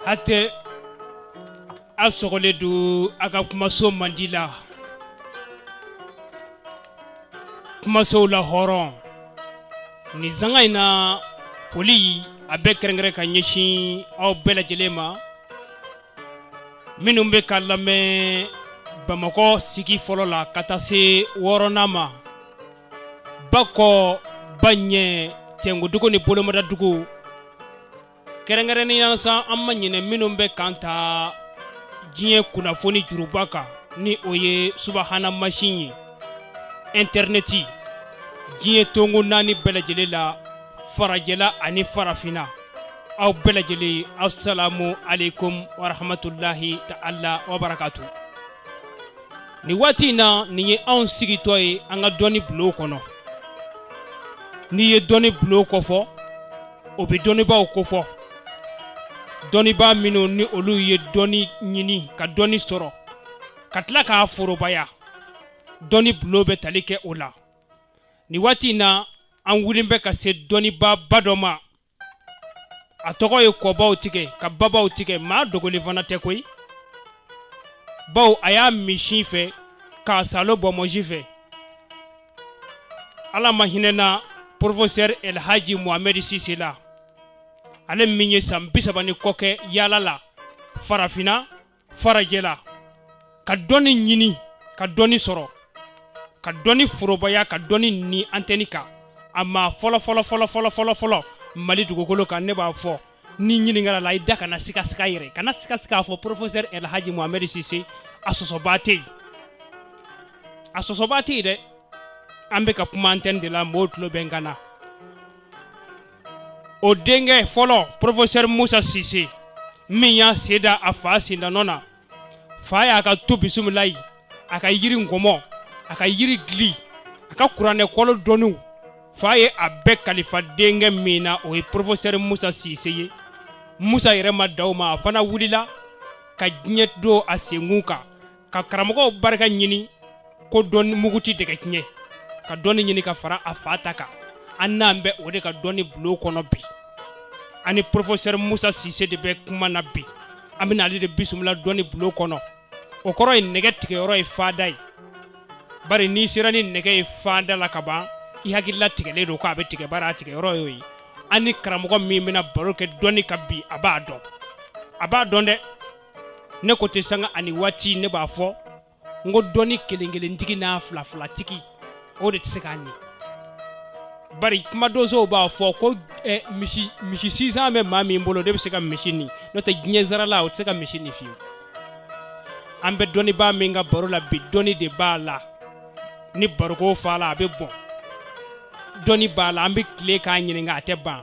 Hatɛ aw sɔgɔlen don a ka kumaso mandi la kumasow la hɔrɔn nin sanga in na foli a bɛ kɛrɛnkɛrɛn ka ɲɛsin aw bɛɛ lajɛlen ma minnu bɛ k'an lamɛn bamakɔ sigi fɔlɔ la ka taa se wɔɔrɔnan ma ba kɔ ba ɲɛ tɛnkodugu ni bolomadadugu kɛrɛnkɛrɛnnenya sa an ma ɲinɛ minnu bɛ k'an ta diɲɛ kunnafoni juruba kan ni o ye subahana masin ye intɛrnɛti diɲɛ tongo naani bɛɛ lajɛlen la farajɛla ani farafinna aw bɛɛ lajɛlen asalamu aleykum warahamatulahi taala wabarakatu nin waati in na nin ye anw sigitɔ ye an ka dɔnni bulon kɔnɔ n'i ye dɔnni bulon kofɔ o bɛ dɔnnibaaw kofɔ dɔnnibaa minnu ni olu ye dɔnni ɲini ka dɔnni sɔrɔ ka tila k'a forobaya dɔnni bulon bɛ tali kɛ o la nin waati in na an wulilen bɛ ka se dɔnnibaaba dɔ ma a tɔgɔ ye kɔbaw tigɛ ka babaw tigɛ maa dogolen fana tɛ koyi bawo a y'a min sin fɛ k'a saalo bonbonsi fɛ ala ma hinɛna porofosɛri elhaji mohamɛdi sise la ale min ye san bi saba ni kɔ kɛ yaala la farafinna farajɛla ka dɔnni ɲini ka dɔnni sɔrɔ ka dɔnni forobaya ka dɔnni ni antɛni kan a maa fɔlɔfɔlɔfɔlɔfɔlɔfɔlɔ mali dugukolo kan ne b'a fɔ n'i ɲininkala a la i da kana sikasika yɛrɛ kana sikasika a fɔ professeur elhaji mohamɛd sise a sɔsɔbaa tɛ yen a sɔsɔbaa tɛ yen dɛ an bɛ ka kuma antɛni de la mɔgɔw tulo bɛ n kan na o denkɛ fɔlɔ porofosɛri musa sise min y'a sen da a fa sendanɔ na fa y'a ka tubisimilayi a ka yiri nkɔmɔ a ka yiri dili a ka kuranɛ kolo dɔnniw fa ye a bɛɛ kalifa denkɛ min na o ye porofosɛri musa sise ye musa yɛrɛ ma dan o ma a fana wulila ka diɲɛ don a senkun kan ka karamɔgɔw barika ɲini ko dɔnni mugu tɛ dɛgɛ tiɲɛ ka dɔnni ɲini ka fara a fa ta kan an nalen bɛ o de ka dɔnni bulon kɔnɔ bi an ni professeur musa sise de bɛ kuma na bi an bɛna ale de bisimila dɔnni bulon kɔnɔ o kɔrɔ ye nɛgɛ tigɛyɔrɔ ye fanda ye bari n'i sera ni nɛgɛ ye fanda la ka ban i hakilila tigɛlen don ko a bɛ tigɛ bari a tigɛyɔrɔ y'o ye an ni karamɔgɔ min bɛna baro kɛ dɔnni kan bi a b'a dɔn a b'a dɔn dɛ ne ko tɛ sanga ani waati ne b'a fɔ n ko dɔnni kelen kelentigi n'a fila filatigi o de tɛ se k'a ni bari kuma donsow b'a fɔ ko eh, misi misi sinsan bɛ maa min bolo de bɛ se ka misi ni n'o tɛ diɲɛ zarala o tɛ se ka misi ni fiyewu an bɛ dɔnnibaa min ka baro la bi dɔnni de b'a la ni baroko fa la a bɛ bɔn dɔnni b'a la an bɛ tile k'a ɲininka a tɛ ban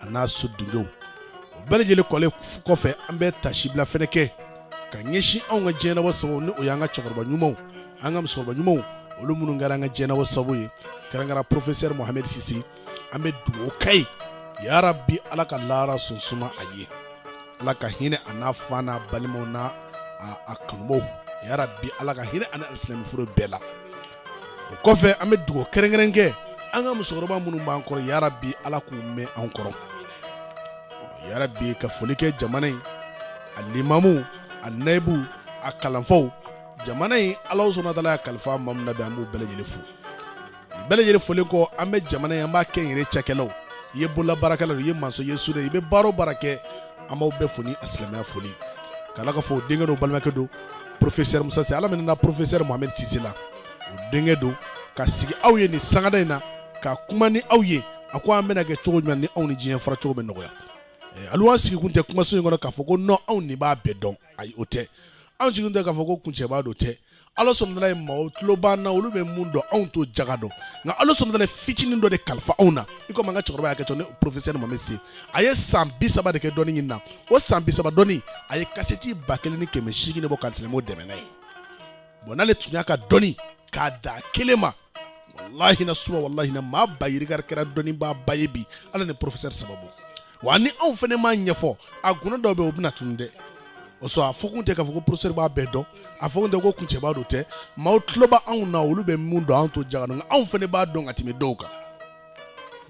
a n'a sodenw o bɛɛ lajɛlen kɛlen kɔfɛ an bɛ tasibila fana kɛ ka ɲɛsin anw ka jɛnabɔ sababu ni o y'an ka cɛkɔrɔba ɲumanw an ka musokɔrɔba ɲumanw olu minnu kɛra an ka jɛnabɔ sababu ye kɛrɛnkɛrɛn porofesɛri muhamɛ sise an bɛ dugawu k'a ye yarabi ala ka lara sunsuma a ye ala ka hinɛ a n'a fa n'a balimaw n'a kanubaw yarabi ala ka hinɛ a ni alisilamɛ fure bɛɛ la o kɔfɛ an bɛ dugawu kɛrɛnkɛrɛn kɛ an ka musokɔrɔba minnu b'an kɔrɔ yarabi ala k'u mɛn an kɔrɔ yarabi ka foli kɛ jamana in a limamu a nayibu a kalanfaw jamana in ala subahana wa taala y'a kalifa maa min na bi an b'u bɛɛ lajɛlen fo nin bɛɛ lajɛlen folen kɔ an bɛ jamana in an b'a kɛnyɛrɛ cakɛlaw i ye bolola baarakɛla don i ye masɔn ye sudɛri i bɛ baara o baara kɛ an b'aw bɛɛ fo ni a silamɛya foli k'ala ka fɔ o denkɛ don balimakɛ don porofesɛri musa sise ala min na porofesɛri mohamɛ sise la o denkɛ don ka sigi aw ye nin sangada in na ka kuma ni aw ye a ko an bɛna kɛ cogo jumɛn ni anw ni diɲɛ fara cogo bɛ nɔgɔya eh, alu an sigikun tɛ kumaso in kɔnɔ k'a fɔ ko nɔn anw de b'a bɛɛ dɔn ayi o tɛ anw sigikun tɛ k'a fɔ ko kuncɛbaa don tɛ ala subahana wa taala ye maaw tulo b'an na olu bɛ mun dɔn anw t'o jaga dɔn nka ala subahana wa taala ye fitinin dɔ de kalifa anw na i komi an ka cɛkɔrɔba y'a kɛ cogo min professeur mohamɛ sise a ye san bi saba de kɛ dɔnni ɲini na o san bi saba dɔnni a ye kasɛti ba kelen ni kɛmɛ seegin de bɔ ka silamɛw dɛmɛ n'a ye bɔn n'ale tun y'a ka dɔnni k'a da kelen ma walahi na suba walahi na maa ba yirika de kɛra dɔnnibaa ba ye bi ala ni professeur sababu wa ni anw fana m'a ɲɛfɔ a guna dɔw bɛ o bɛna tunu dɛ o sɔn a fɔkun tɛ k'a fɔ ko professeur b'a bɛɛ dɔn a fɔkun tɛ ko kuncɛbaa don tɛ maaw tulo b'anw na olu bɛ mun dɔn anw t'o jaga nka anw fana b'a dɔn ka tɛmɛ dɔw kan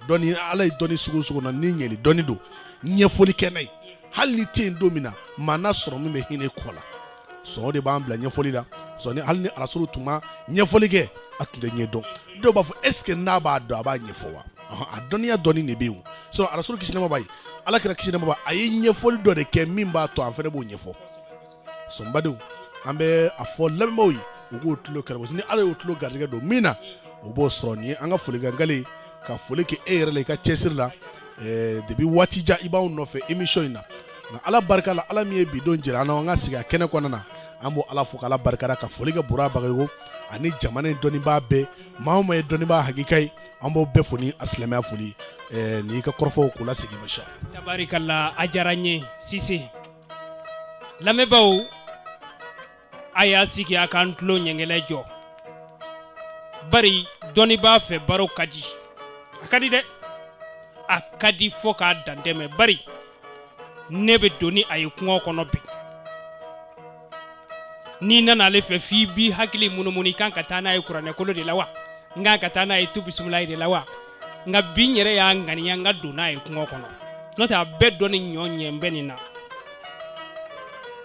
dɔnni ala ye dɔnni sugu sugu na ni ɲɛli dɔnni don ɲɛfɔli kɛ n'a ye hali n'i tɛ yen don min na maa n'a sɔrɔ min bɛ hinɛ kɔ la sɔn o de b'an bila ɲɛfɔli la sɔni hali ni arasuru tun ma ɲɛfɔli kɛ a tun tɛ ɲɛ dɔn dɔw b'a fɔ ɛseke n'a b'a dɔn a b'a ɲɛfɔ wa a dɔnniya dɔnni de bɛ yen sɔnɔ arasuru kisi nɛɛma b'a ye ala kira kisi nɛɛma b'a a ye ɲɛfɔli dɔ de kɛ min b'a to an fana b'o ɲɛfɔ sɔn badenw an bɛ a fɔ lamɛnbaaw ye u k'u tulo kɛra ni ala y'u tulo garijɛgɛ don min na u b'o sɔrɔ nin ye an ka folikankale ka foli kɛ e yɛrɛ la i ka cɛsiri la eh, depi waati jan i b'anw nɔfɛ imisɔn in na nka ala barika la ala min ye bi don jira an na an ka sigi a kɛnɛ kɔnɔna na an b'ala fo k'ala barikada ka foli kɛ bura bagayogo ani jamana dɔnnibaa bɛɛ maa o maa ye dɔnnibaa hakika ye an b'o bɛɛ fo ni a silamɛya foli eh, n'i ka kɔrɔfɔw k'u lasegin masa ala tabarikala a diyara n ye sise lamɛnbaaw a y'a sigi a k'an tulo ɲɛngɛlɛ jɔ bari dɔnnibaa fɛ baro ka di a ka di dɛ a ka di fo k'a dantɛmɛ bari ne bɛ don ni a ye kungo kɔnɔ bi n'i nana ale fɛ f'i b'i hakili munumunu i kan ka taa n'a ye kuranɛkolo de la wa n kan ka taa n'a ye tu bisimilayi de la wa nka bi n yɛrɛ y'a ŋaniya n ka don n'a ye kungo kɔnɔ n'o tɛ a bɛɛ dɔn ni ɲɔ ɲɛ n bɛ nin na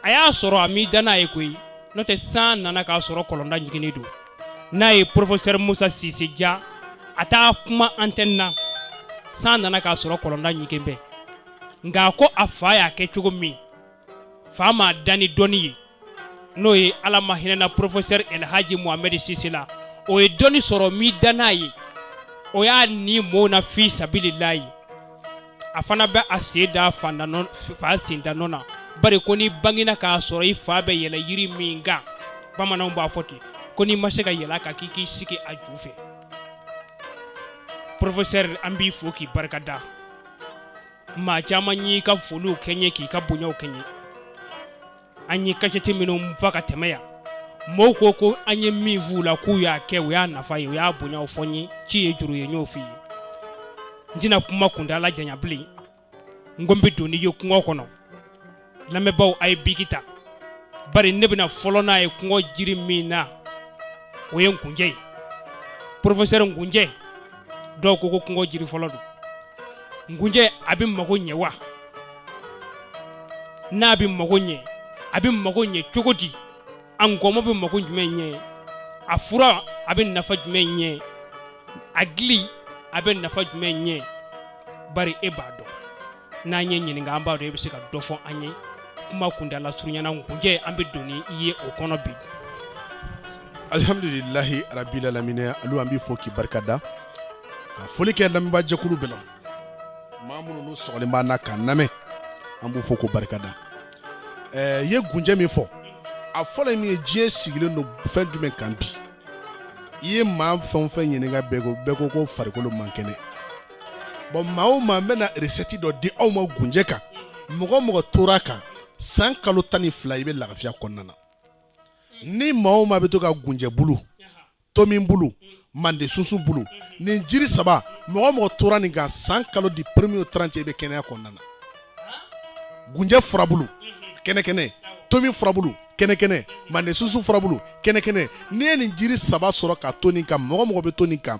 a y'a sɔrɔ a m'i da n'a ye koyi n'o tɛ san nana k'a sɔrɔ kɔlɔnda ɲiginnen don n'a ye porofesɛri musa sise ja a t'a kuma antɛni na san nana k'a sɔrɔ kɔlɔnda ɲigen bɛ nka a ko a fa y'a kɛ cogo min fa m'a da ni dɔnni ye n'o ye ala ma hinɛna porofesɛri elhaji mohamɛdi sise la o ye dɔnni sɔrɔ m'i da n'a ye o y'a ni mɔɔw na fi sabililayi a fana bɛ a sen da fa sendanɔ na bari ko n'i bangina k'a sɔrɔ i fa bɛ yɛlɛ yiri min kan bamananw b'a fɔ ten ko n'i ma se ka yɛlɛ a kan k'i k'i sigi a ju fɛ porofesɛri an b'i fo k'i barikada maa caman y'i ka foliw kɛ n ye k'i ka bonyaw kɛ n ye an ye kasɛti minnu fa ka tɛmɛ yan mɔɔw ko ko an ye min f'u la k'u y'a kɛ u y'a nafa ye u y'a bonyaw fɔ n ye ci ye juru ye n y'o f'i ye n tɛna kuma kuntaala janya bilen n ko n bɛ don n'i ye kungo kɔnɔ lamɛnbaaw a ye biki ta bari ne bɛna fɔlɔ n'a ye kungo jiri min na o ye nkunjɛ ye porofesɛri nkunjɛ dɔw ko ko kungo jiri fɔlɔ don nkunjɛ a bɛ mago ɲɛ wa n'a bɛ mago ɲɛ a bɛ mago ɲɛ cogo di a nkɔmɔ bɛ mago jumɛn ɲɛ a fura a bɛ nafa jumɛn ɲɛ a gili a bɛ nafa jumɛn ɲɛ bari e b'a dɔn n'an y'i ɲininka an b'a dɔn i bɛ se ka dɔ fɔ an ye kuma kuntaala surunyana nkunjɛ an bɛ don n'i ye o kɔnɔ bi alihamdulilahi rabili alaminɛ alu an b'i fo k'i barika da ka foli kɛ lamɛnbaajɛkulu bɛɛ la maa minnu n'u sɔgɔlen b'an na k'an lamɛn an b'u fo k'u barika da ɛɛ ye gunjɛ min fɔ a fɔlɔ ye min ye diɲɛ sigilen don fɛn jumɛn kan bi i ye maa fɛn o fɛn ɲininka bɛɛ ko ko farikolo man kɛnɛ bɔn maa o maa n bɛna resɛti dɔ di aw ma gunjɛ kan mɔgɔ o mɔgɔ tora a kan san kalo tan ni fila i bɛ lafiya kɔnɔna na ni maa o maa bɛ to ka gunjɛ bulu tomin bulu mande sunsun bulu nin jiri saba mɔgɔ o mɔgɔ tora nin kan san kalo du premier au trente i bɛ kɛnɛya kɔnɔna na gunjɛ furabulu kɛnɛkɛnɛ tomin furabulu kɛnɛkɛnɛ mande sunsun furabulu kɛnɛkɛnɛ n'i ye nin jiri saba sɔrɔ ka to nin kan mɔgɔ o mɔgɔ bɛ to nin kan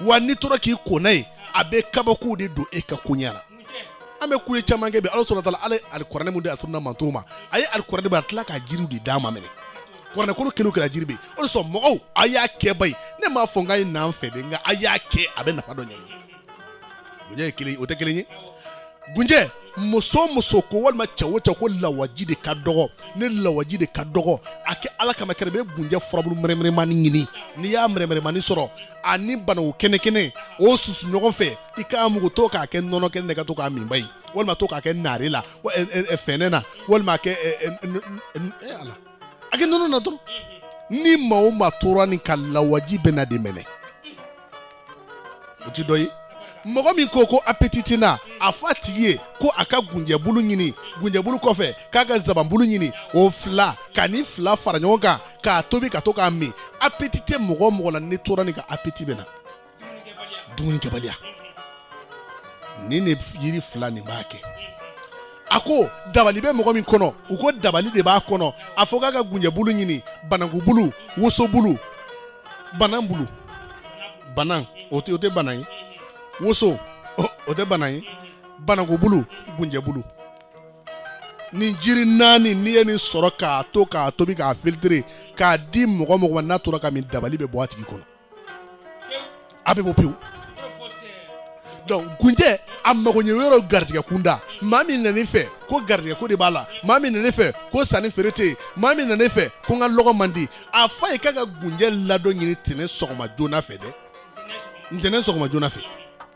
wa n'i tora k'i ko n'a ye a bɛ kabakow de don e ka koɲɛ la an bɛ kuye caman kɛ bi ala sɔrɔ taala ala ye alikuranɛ min di a sunna mantow ma a ye alikuranɛ bɛ a tila k'a jiriw de d'a ma minɛ kuranɛ kolo kelen kɛra jiri bɛ o de sɔn mɔgɔw a y'a kɛ ba ye ne m'a fɔ n k'a ye n'an fɛ dɛ nka a y'a kɛ a bɛ nafa dɔ ɲɛ gunjɛ ye kelen o tɛ kelen ye gunjɛ muso o muso ko walima cɛ o cɛ ko lawaji de ka dɔgɔ ne lawaji de ka dɔgɔ a kɛ ala kama kɛrɛ bɛ gunjɛ furabulu mɛrɛmɛrɛmani ɲini n'i y'a mɛrɛmɛrɛmani sɔrɔ ani banaw kɛnɛ kɛnɛ o susu ɲɔgɔn fɛ i k'a mugu to k'a kɛ nɔnɔ kɛnɛ na ka to k'a min ba ye walima to k'a kɛ naare la fɛnɛ na walima a kɛ a kɛ nɔnɔ na dɔrɔn ni maa o maa tora nin kan lawaji bɛna den minɛ o ti dɔ ye mɔgɔ min ko ko appétit ti n na a fɔ a tigi ye ko a ka gunjɛbulu ɲini gunjɛbulu kɔfɛ k'a ka zabanbulu ɲini o fila ka nin fila fara ɲɔgɔn kan k'a tobi ka to k'a min appétit tɛ mɔgɔ mɔgɔ la n'i tora nin kan appétit bɛ na dumunikɛbaliya ni ne yiri fila nin b'a kɛ a ko dabali bɛ mɔgɔ min kɔnɔ u ko dabali de b'a kɔnɔ a fɔ k'a ka gunjɛbulu ɲini banankubulu wosobulu banan bulu banan o tɛ bana ye woso o tɛ bana ye banankubulu gunjɛbulu nin jiri naani n'i ye nin sɔrɔ k'a to k'a tobi k'a filtrer k'a di mɔgɔ mɔgɔ ma n'a tora k'a min dabali bɛ bɔ a tigi kɔnɔ a bɛ bɔ pewu donc gunjɛ a magoɲɛ yɔrɔ garijɛgɛ kunda maa min nana e fɛ ko garijɛgɛ ko de b'a la maa min nana e fɛ ko sanni feere tɛ yen maa min nana e fɛ ko n ka lɔgɔ man di a f'a ye k'a ka gunjɛ ladɔn ɲini tɛnɛn sɔgɔma joona fɛ dɛ ntɛnɛn sɔgɔma joona fɛ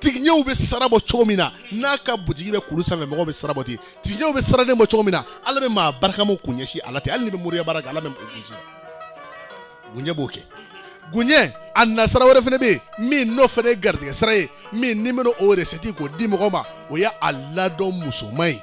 tigiɲɛw bɛ sira bɔ cogo min na n'a ka butigi bɛ kulu sanfɛ mɔgɔw bɛ sira bɔ ten tigiɲɛw bɛ siraden bɔ cogo min na ala bɛ maa barikamaw kun ɲɛsin a la ten hali n'i bɛ moriya baara kɛ ala bɛ o kun sin gunjɛ b'o kɛ gunjɛ ani sira wɛrɛ fana bɛ yen min n'o fana ye garijɛgɛ sira ye min ni n bɛna o recette k'o di mɔgɔ ma o ye a ladɔn musoman ye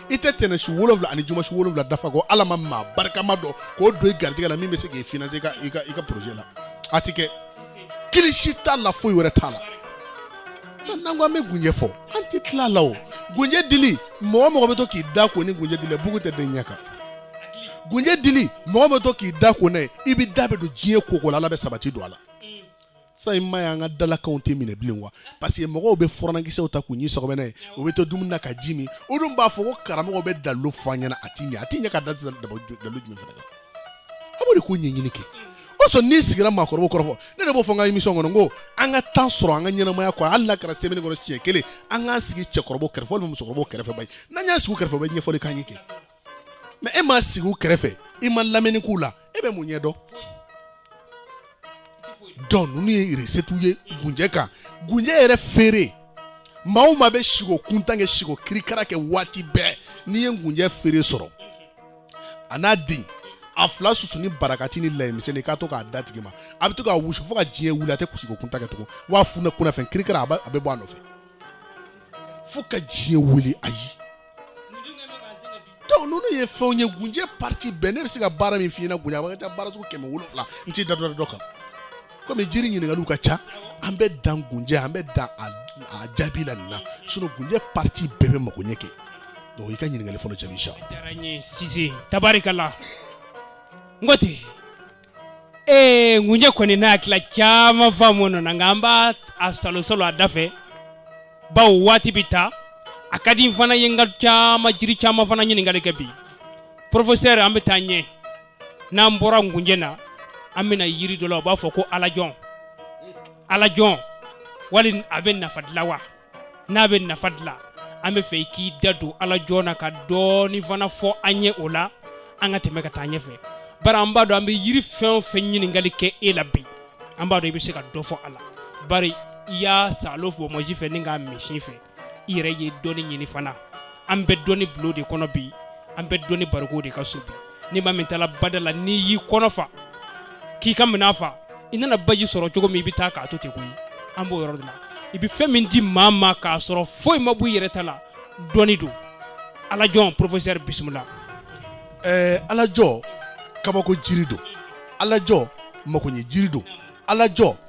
i tɛ tɛnɛn su wolonwula ani juma su wolonwula dafa ko ala ma maa barikama dɔ kun don i garijɛgɛ la min bɛ se k'i financer i ka projet la a tɛ kɛ kilisi t'a la foyi wɛrɛ t'a la n'an ko an bɛ gunjɛ fɔ an tɛ tila a la o gunjɛ dili mɔgɔ mɔgɔ bɛ to k'i da ko ni gunjɛ dili ye bugun tɛ d'i ɲɛ kan gunjɛ dili mɔgɔ bɛ to k'i da ko n'a ye i bɛ da bɛ don diɲɛ ko o ko la ala bɛ sabati don a la sa in ma y'an ka dalakanw tɛ minɛ bilen wa parce que mɔgɔw bɛ furankisɛw ta k'u ɲin sɔgɔbɛ n'a ye u bɛ to dumuni na ka ji min u dun b'a fɔ ko karamɔgɔ bɛ dalilu fɔ an ɲɛna a ti ɲɛ a ti ɲɛ ka da dalu jumɛn fana kan a b'o de ko ɲɛɲini kɛ o sɔn n'i sigira maakɔrɔbaw kɛrɛfɛ ne de b'o fɔ n ka émission kɔnɔ n ko an ka temps sɔrɔ an ka ɲɛnamaya kɔnɔ hali n'a kɛra semaine kɔnɔ siɲɛ kelen an k'an sigi cɛkɔrɔbaw kɛrɛfɛ walima musokɔrɔbaw kɛrɛfɛ bayi n'an y'an sigi u kɛrɛfɛ u bɛ ɲɛfɔli k'an ye kɛ mɛ e ma sigi u kɛrɛfɛ i ma lamɛnni k'u la e bɛ mun ɲɛ dɔn dɔnku ninnu ye resetiw ye gunjɛ kan gunjɛ yɛrɛ feere maa o maa bɛ siko kuntan kɛ siko kirikara kɛ waati bɛɛ n'i ye gunjɛ feere sɔrɔ a n'a den a fila susu ni barakati ni layimisɛnni k'a to k'a d'a tigi ma a bɛ to k'a wusu fo ka diɲɛ wuli a tɛ siko kuntan kɛ tugun wa funɛ kunnafɛn kirikara a bɛ bɔ a nɔfɛ fo ka diɲɛ wuli ayi dɔnku ninnu ye fɛnw ye gunjɛ pariti bɛɛ ne bɛ se ka baara min f'i ɲɛna gunjɛ a bɛ ka taa baara sugu kɛmɛ wolonwula n t'i da dɔ dɔ kan komi jiri ɲininkaliw ka ca an bɛ dan gunjɛ an bɛ dan a jaabi la nin na sinɔn gunjɛ pariti bɛɛ bɛ magoɲɛ kɛ dɔnku i ka ɲininkali fɔlɔ jaabi sa. a diyara n ye Sise Tabarikala n ko ten ee gunjɛ kɔni n'a hakilila caman faamu nɔ na nka an b'a a salosalo a da fɛ bawo waati bɛ taa a ka di n fana ye n ka caman jiri caman fana ɲininkali kɛ bi porofesɛri an bɛ taa ɲɛ n'an bɔra gunjɛ na an bɛna yiri dɔ la u b'a fɔ ko alajɔn alajɔn wali a bɛ nafa dilan wa n'a bɛ nafa dilan an b'a fɛ i k'i da don alajɔn na ka dɔɔni fana fɔ an ye o la an ka tɛmɛ ka taa ɲɛfɛ bari an b'a dɔn an bɛ yiri fɛn o fɛn ɲininkali kɛ e la bi an b'a dɔn i bɛ se ka dɔ fɔ a la bari i y'a salo fa bonsi fɛ ni k'a min sin fɛ i yɛrɛ ye dɔɔni ɲini fana an bɛ dɔnni bulon de kɔnɔ bi an bɛ dɔnni bariko de ka so bi ni maa min taala bada la n'i y'i kɔnɔ fa k'i ka minɛn fa i nana baji sɔrɔ cogo min i bɛ taa k'a to ten koyi an b'o yɔrɔ de la i bɛ fɛn min di maa ma k'a sɔrɔ foyi ma bɔ i yɛrɛ ta la dɔnni don alajɔn porofesɛri bisimila ɛɛ alajɔ kabako jiri don alajɔ makoɲɛ jiri don alajɔ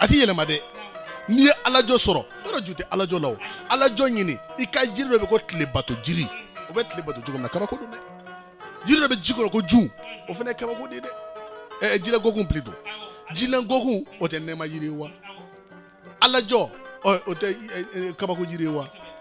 a tɛ yɛlɛma dɛ n'i ye alajɔ sɔrɔ yɔrɔ ju tɛ alajɔ la o alajɔ ɲini i ka jiri dɔ bɛ ko tile bato jiri o bɛ tile bato cogo min na kabako don dɛ jiri dɔ bɛ ji kɔnɔ ko jun o fana ye kabako de ye dɛ ɛɛ jilɛ gɔkun plutôt jilɛ gɔkun o tɛ nɛɛma jiri ye wa alajɔ ɔ o tɛ kabako jiri ye wa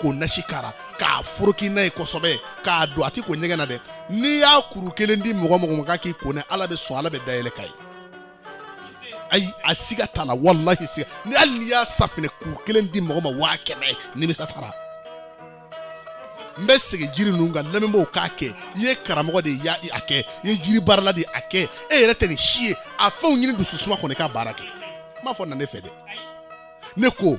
k'o nasi k'a la k'a foroki n'a ye kosɛbɛ k'a dɔn a t'i ko ɲɛgɛn na dɛ n'i y'a kuru kelen di mɔgɔ mɔgɔ ma k'a k'i ko ne ala bɛ sɔn ala bɛ dayɛlɛ k'a ye ayi a siga t'a la walahi siga ni hali n'i y'a safinɛ kuru kelen di mɔgɔ ma waa kɛmɛ nimisa t'a la n bɛ segin jiri ninnu kan lamɛnbaaw k'a kɛ i ye karamɔgɔ de ye a kɛ i ye jiri baarala de a kɛ e yɛrɛ tɛ nin si ye a fɛnw ɲini dususuma kɔnɔ k'a baara kɛ n m'a fɔ na ne fɛ dɛ ne ko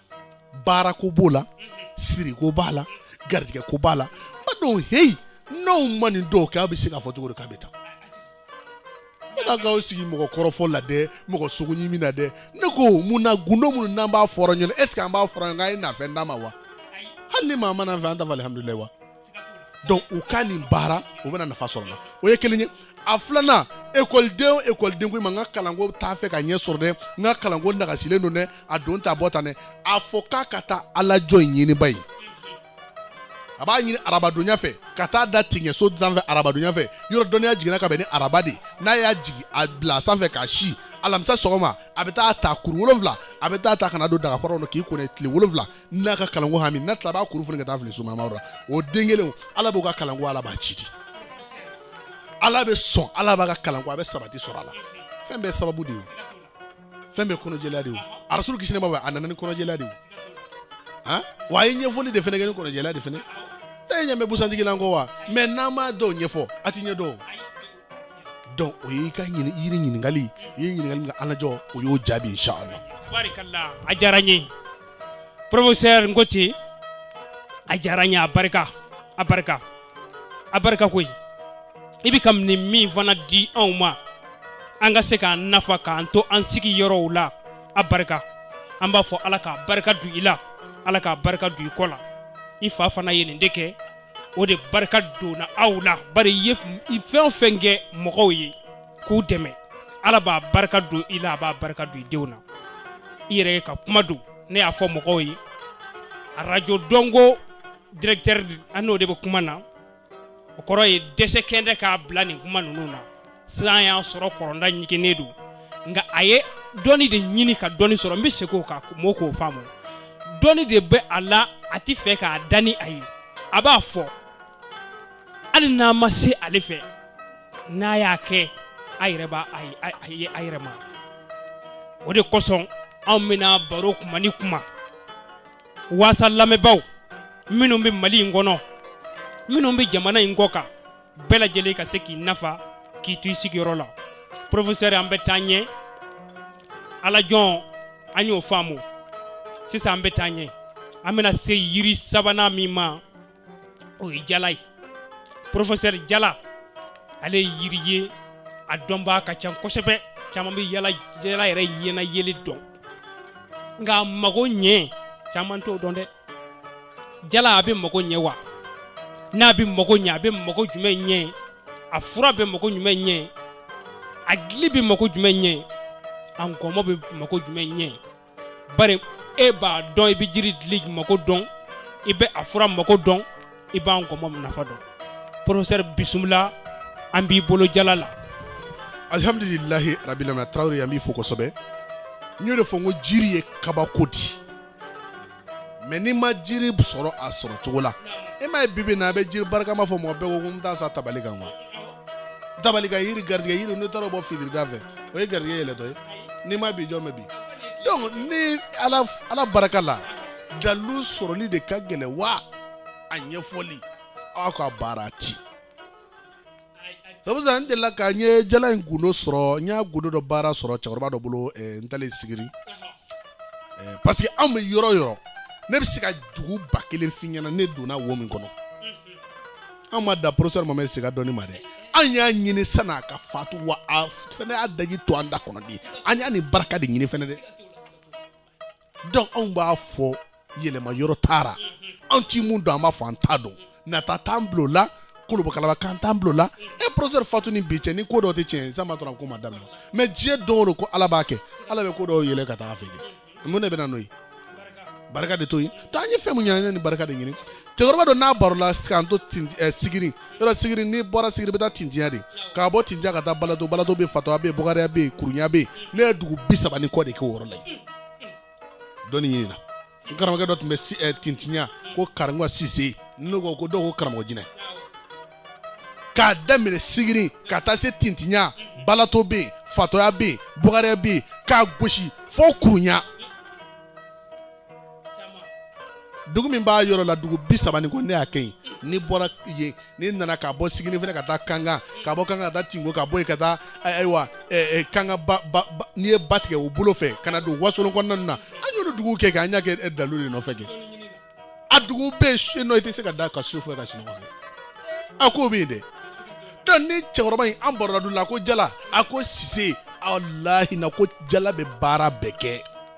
baarako b'o la siriko b'a la garijɛgɛko b'a la b'a dɔn heyi n'aw ma nin dɔw kɛ aw bɛ se k'a fɔ cogo di k'a bɛ taa ala k'aw sigi mɔgɔ kɔrɔfɔ la dɛ mɔgɔ sogo ɲimi na dɛ ne ko mun na gundo minnu n'an b'a fɔra ɲɔgɔn est ce que an b'a fɔra ɲɔgɔn k'a ye na fɛn d'an ma wa hali ni maa ma na fɛn an t'a fɔ alihamudulila wa donc u ka nin baara u bɛna nafa sɔrɔ la o ye kelen ye a filanan ekɔliden ekɔliden ko i ma n ka kalanko t'a fɛ ka ɲɛ sɔrɔ dɛ n ka kalanko nagasilen don dɛ a don ta bɔ tan dɛ a fɔ k'a ka taa alajɔ ɲini ba ye a b'a ɲini arabadonya fɛ ka taa da tigɛ so sanfɛ arabadonya fɛ yɔrɔ dɔnniya jiginna ka bɛn ni araba de n'a y'a jigin a bila sanfɛ k'a si alamisa sɔgɔma a bɛ taa ta kuru wolonwula a bɛ taa ta ka n'a don dagakɔrɔ kɔnɔ k'i kɔnɔ tile wolonwula n'a ka kalanko hami n'a tila b'a kuru foni ka taa fili sumama la o den kelen ala b'o ka kalanko ala b'a ci di ala bɛ sɔn ala b'a ka kalanko a bɛ sabati sɔrɔ a la fɛn bɛɛ sababu de ye fɛn bɛɛ kɔnɔjɛlenya de ye arasuru kisi nɛɛma a nana ni kɔnɔjɛlenya de ye han wa a ye ɲɛfɔli de fana kɛ ni kɔnɔjɛlenya de fana e ɲɛ bɛ busantigi la n ko wa mais n'an m'a dɔw ɲɛfɔ a tɛ ɲɛ dɔn o y'i ka yiri ɲininkali i ye ɲininkali min kɛ alajɔ o y'o jaabi inshallah tabarikala a diyara n ye professeur ngoti a diyara n ye a barika a barika a barika koyi i bɛ ka nin min fana di anw ma an ka se k'an nafa k'an to an sigi yɔrɔw la a barika an b'a fɔ ala k'a barika don i la ala k'a barika don i kɔ la i fa fana ye nin de kɛ o de barika donna aw la bari i ye fɛn o fɛn kɛ mɔgɔw ye k'u dɛmɛ ala b'a barika don i la a b'a barika don i denw na i yɛrɛ de ka kuma don ne y'a fɔ mɔgɔw ye arajo dɔnko directeur an n'o de bɛ kuma na o kɔrɔ ye dɛsɛ kɛnɛ k'a bila nin kuma ninnu na san y'a sɔrɔ kɔlɔnda ɲiginnen don nka a ye dɔnni de ɲini ka dɔnni sɔrɔ n bɛ segin o kan mɔɔ k'o faamu dɔnni de bɛ a la a tɛ fɛ k'a da ni a ye a b'a fɔ hali n'a ma se ale fɛ n'a y'a kɛ a yɛrɛ b'a a yɛrɛ ma o de kosɔn anw bɛna baro kuma ni kuma waasa lamɛnbaaw minnu bɛ mali in kɔnɔ minnu bɛ jamana in kɔ kan bɛɛ lajɛlen ka se k'i nafa k'i to i sigiyɔrɔ la professeur an bɛ taa ɲɛ alajɔ an y'o faamu sisan an bɛ taa ɲɛ an bɛna se yiri sabanan min ma o ye jala ye professeur jala ale ye yiri ye a dɔnbaa ka ca kosɛbɛ caman bɛ jala jala yɛrɛ yɛnɛ yeli dɔn nka a mago ɲɛ caman t'o dɔn dɛ jala a bɛ mago ɲɛ wa n'a bɛ mago ɲɛ a bɛ mago jumɛn ɲɛ a fura bɛ mago jumɛn ɲɛ a dili bɛ mago jumɛn ɲɛ a nkɔmɔ bɛ mago jumɛn ɲɛ bari e b'a dɔn i bɛ jiri dili mago dɔn i bɛ a fura mago dɔn i b'a nkɔmɔ nafa dɔn professeur bisimila an b'i bolo jala la alhamdulilahi rabilamina tarawele an b'i fo kosɛbɛ n y'o de fɔ n ko jiri ye kabako di mais n'i ma jiri sɔrɔ a sɔrɔ cogo la e ma ye bibi na a bɛ jiri barikama fɔ mɔgɔ bɛɛ ko ko n taa sa tabali kan quoi tabali kan yiri garijɛgɛ yiri n'i taara a bɔ fitirida fɛ o ye garijɛgɛ yɛlɛtɔ ye n'i ma bi jɔn bɛ bi donc ni ala barika la dalilu sɔrɔli de ka gɛlɛn wa a ɲɛfɔli aw ka baara ti delila ka n ye jala in gundo sɔrɔ n y'a gundo dɔ baara sɔrɔ cɛkɔrɔba dɔ bolo n taalen sigiri parce que anw bɛ yɔrɔ yɔrɔ ne bɛ se ka dugu ba kelen f'i ɲɛna ne donna wo min kɔnɔ an ma dan professeur mamɛdi sega dɔnni ma dɛ an y'a ɲini san'a ka fatu wa a fana y'a daji to an da kɔnɔ de an y'a ni barika de ɲini fana dɛ donc anw b'a fɔ yɛlɛma yɔrɔ taara an tɛ mun dɔn an b'a fɔ an t'a dɔn nata t'an bolo la kolobakalaba kan t'an bolo la e professeur fatu ni bi cɛ ni ko dɔ tɛ tiɲɛ san ma dɔrɔn ko ma daminɛ mais diɲɛ don o don ko ala b'a kɛ ala bɛ ko dɔw yɛlɛ ka taa a fɛ kɛ mun de bɛ na n'o ye barika de to yen donc an ye fɛn mun ɲɛna ni barika de ɲini cɛkɔrɔba dɔ n'an barola k'an to sigiri yɔrɔ sigiri n'i bɔra sigiri bɛ taa tintinya de ka bɔ tintinya ka taa balato balato bɛ fatɔya bɛ bɔgariya bɛ kurunya bɛ ne ye dugu bi saba ni kɔ de kɛ o yɔrɔ la yen dɔnni ɲini na n karamɔgɔ dɔ tun bɛ si- eh, tintinya ko karamɔgɔ sise ne ko dɔw ko karamɔgɔ jinɛ k'a daminɛ sigiri ka taa se tintinya balato bɛ yen fatɔya bɛ yen bɔgariya bɛ yen k'a gosi fo kurunya dugu min b'a yɔrɔ la dugu bi saba ni kɔ ne y'a kɛ yen n'i bɔra yen n'i nana ka bɔ sigiri fana ka taa kankan ka bɔ kankan ka taa tinko ka bɔ yen ka taa ayiwa kankan ba ba n'i ye ba tigɛ o bolo fɛ ka na don wasolon kɔnɔna na an y'olu dugu kɛ kɛ an y'a kɛ dalu de nɔfɛ kɛ a dugu bɛ yen nɔ i tɛ se ka da ka su fɛ ka sunɔgɔ kɛ a ko bɛ yen dɛ donc ni cɛkɔrɔba in an barola don la ko jala a ko sise walahi na ko jala bɛ baara bɛɛ kɛ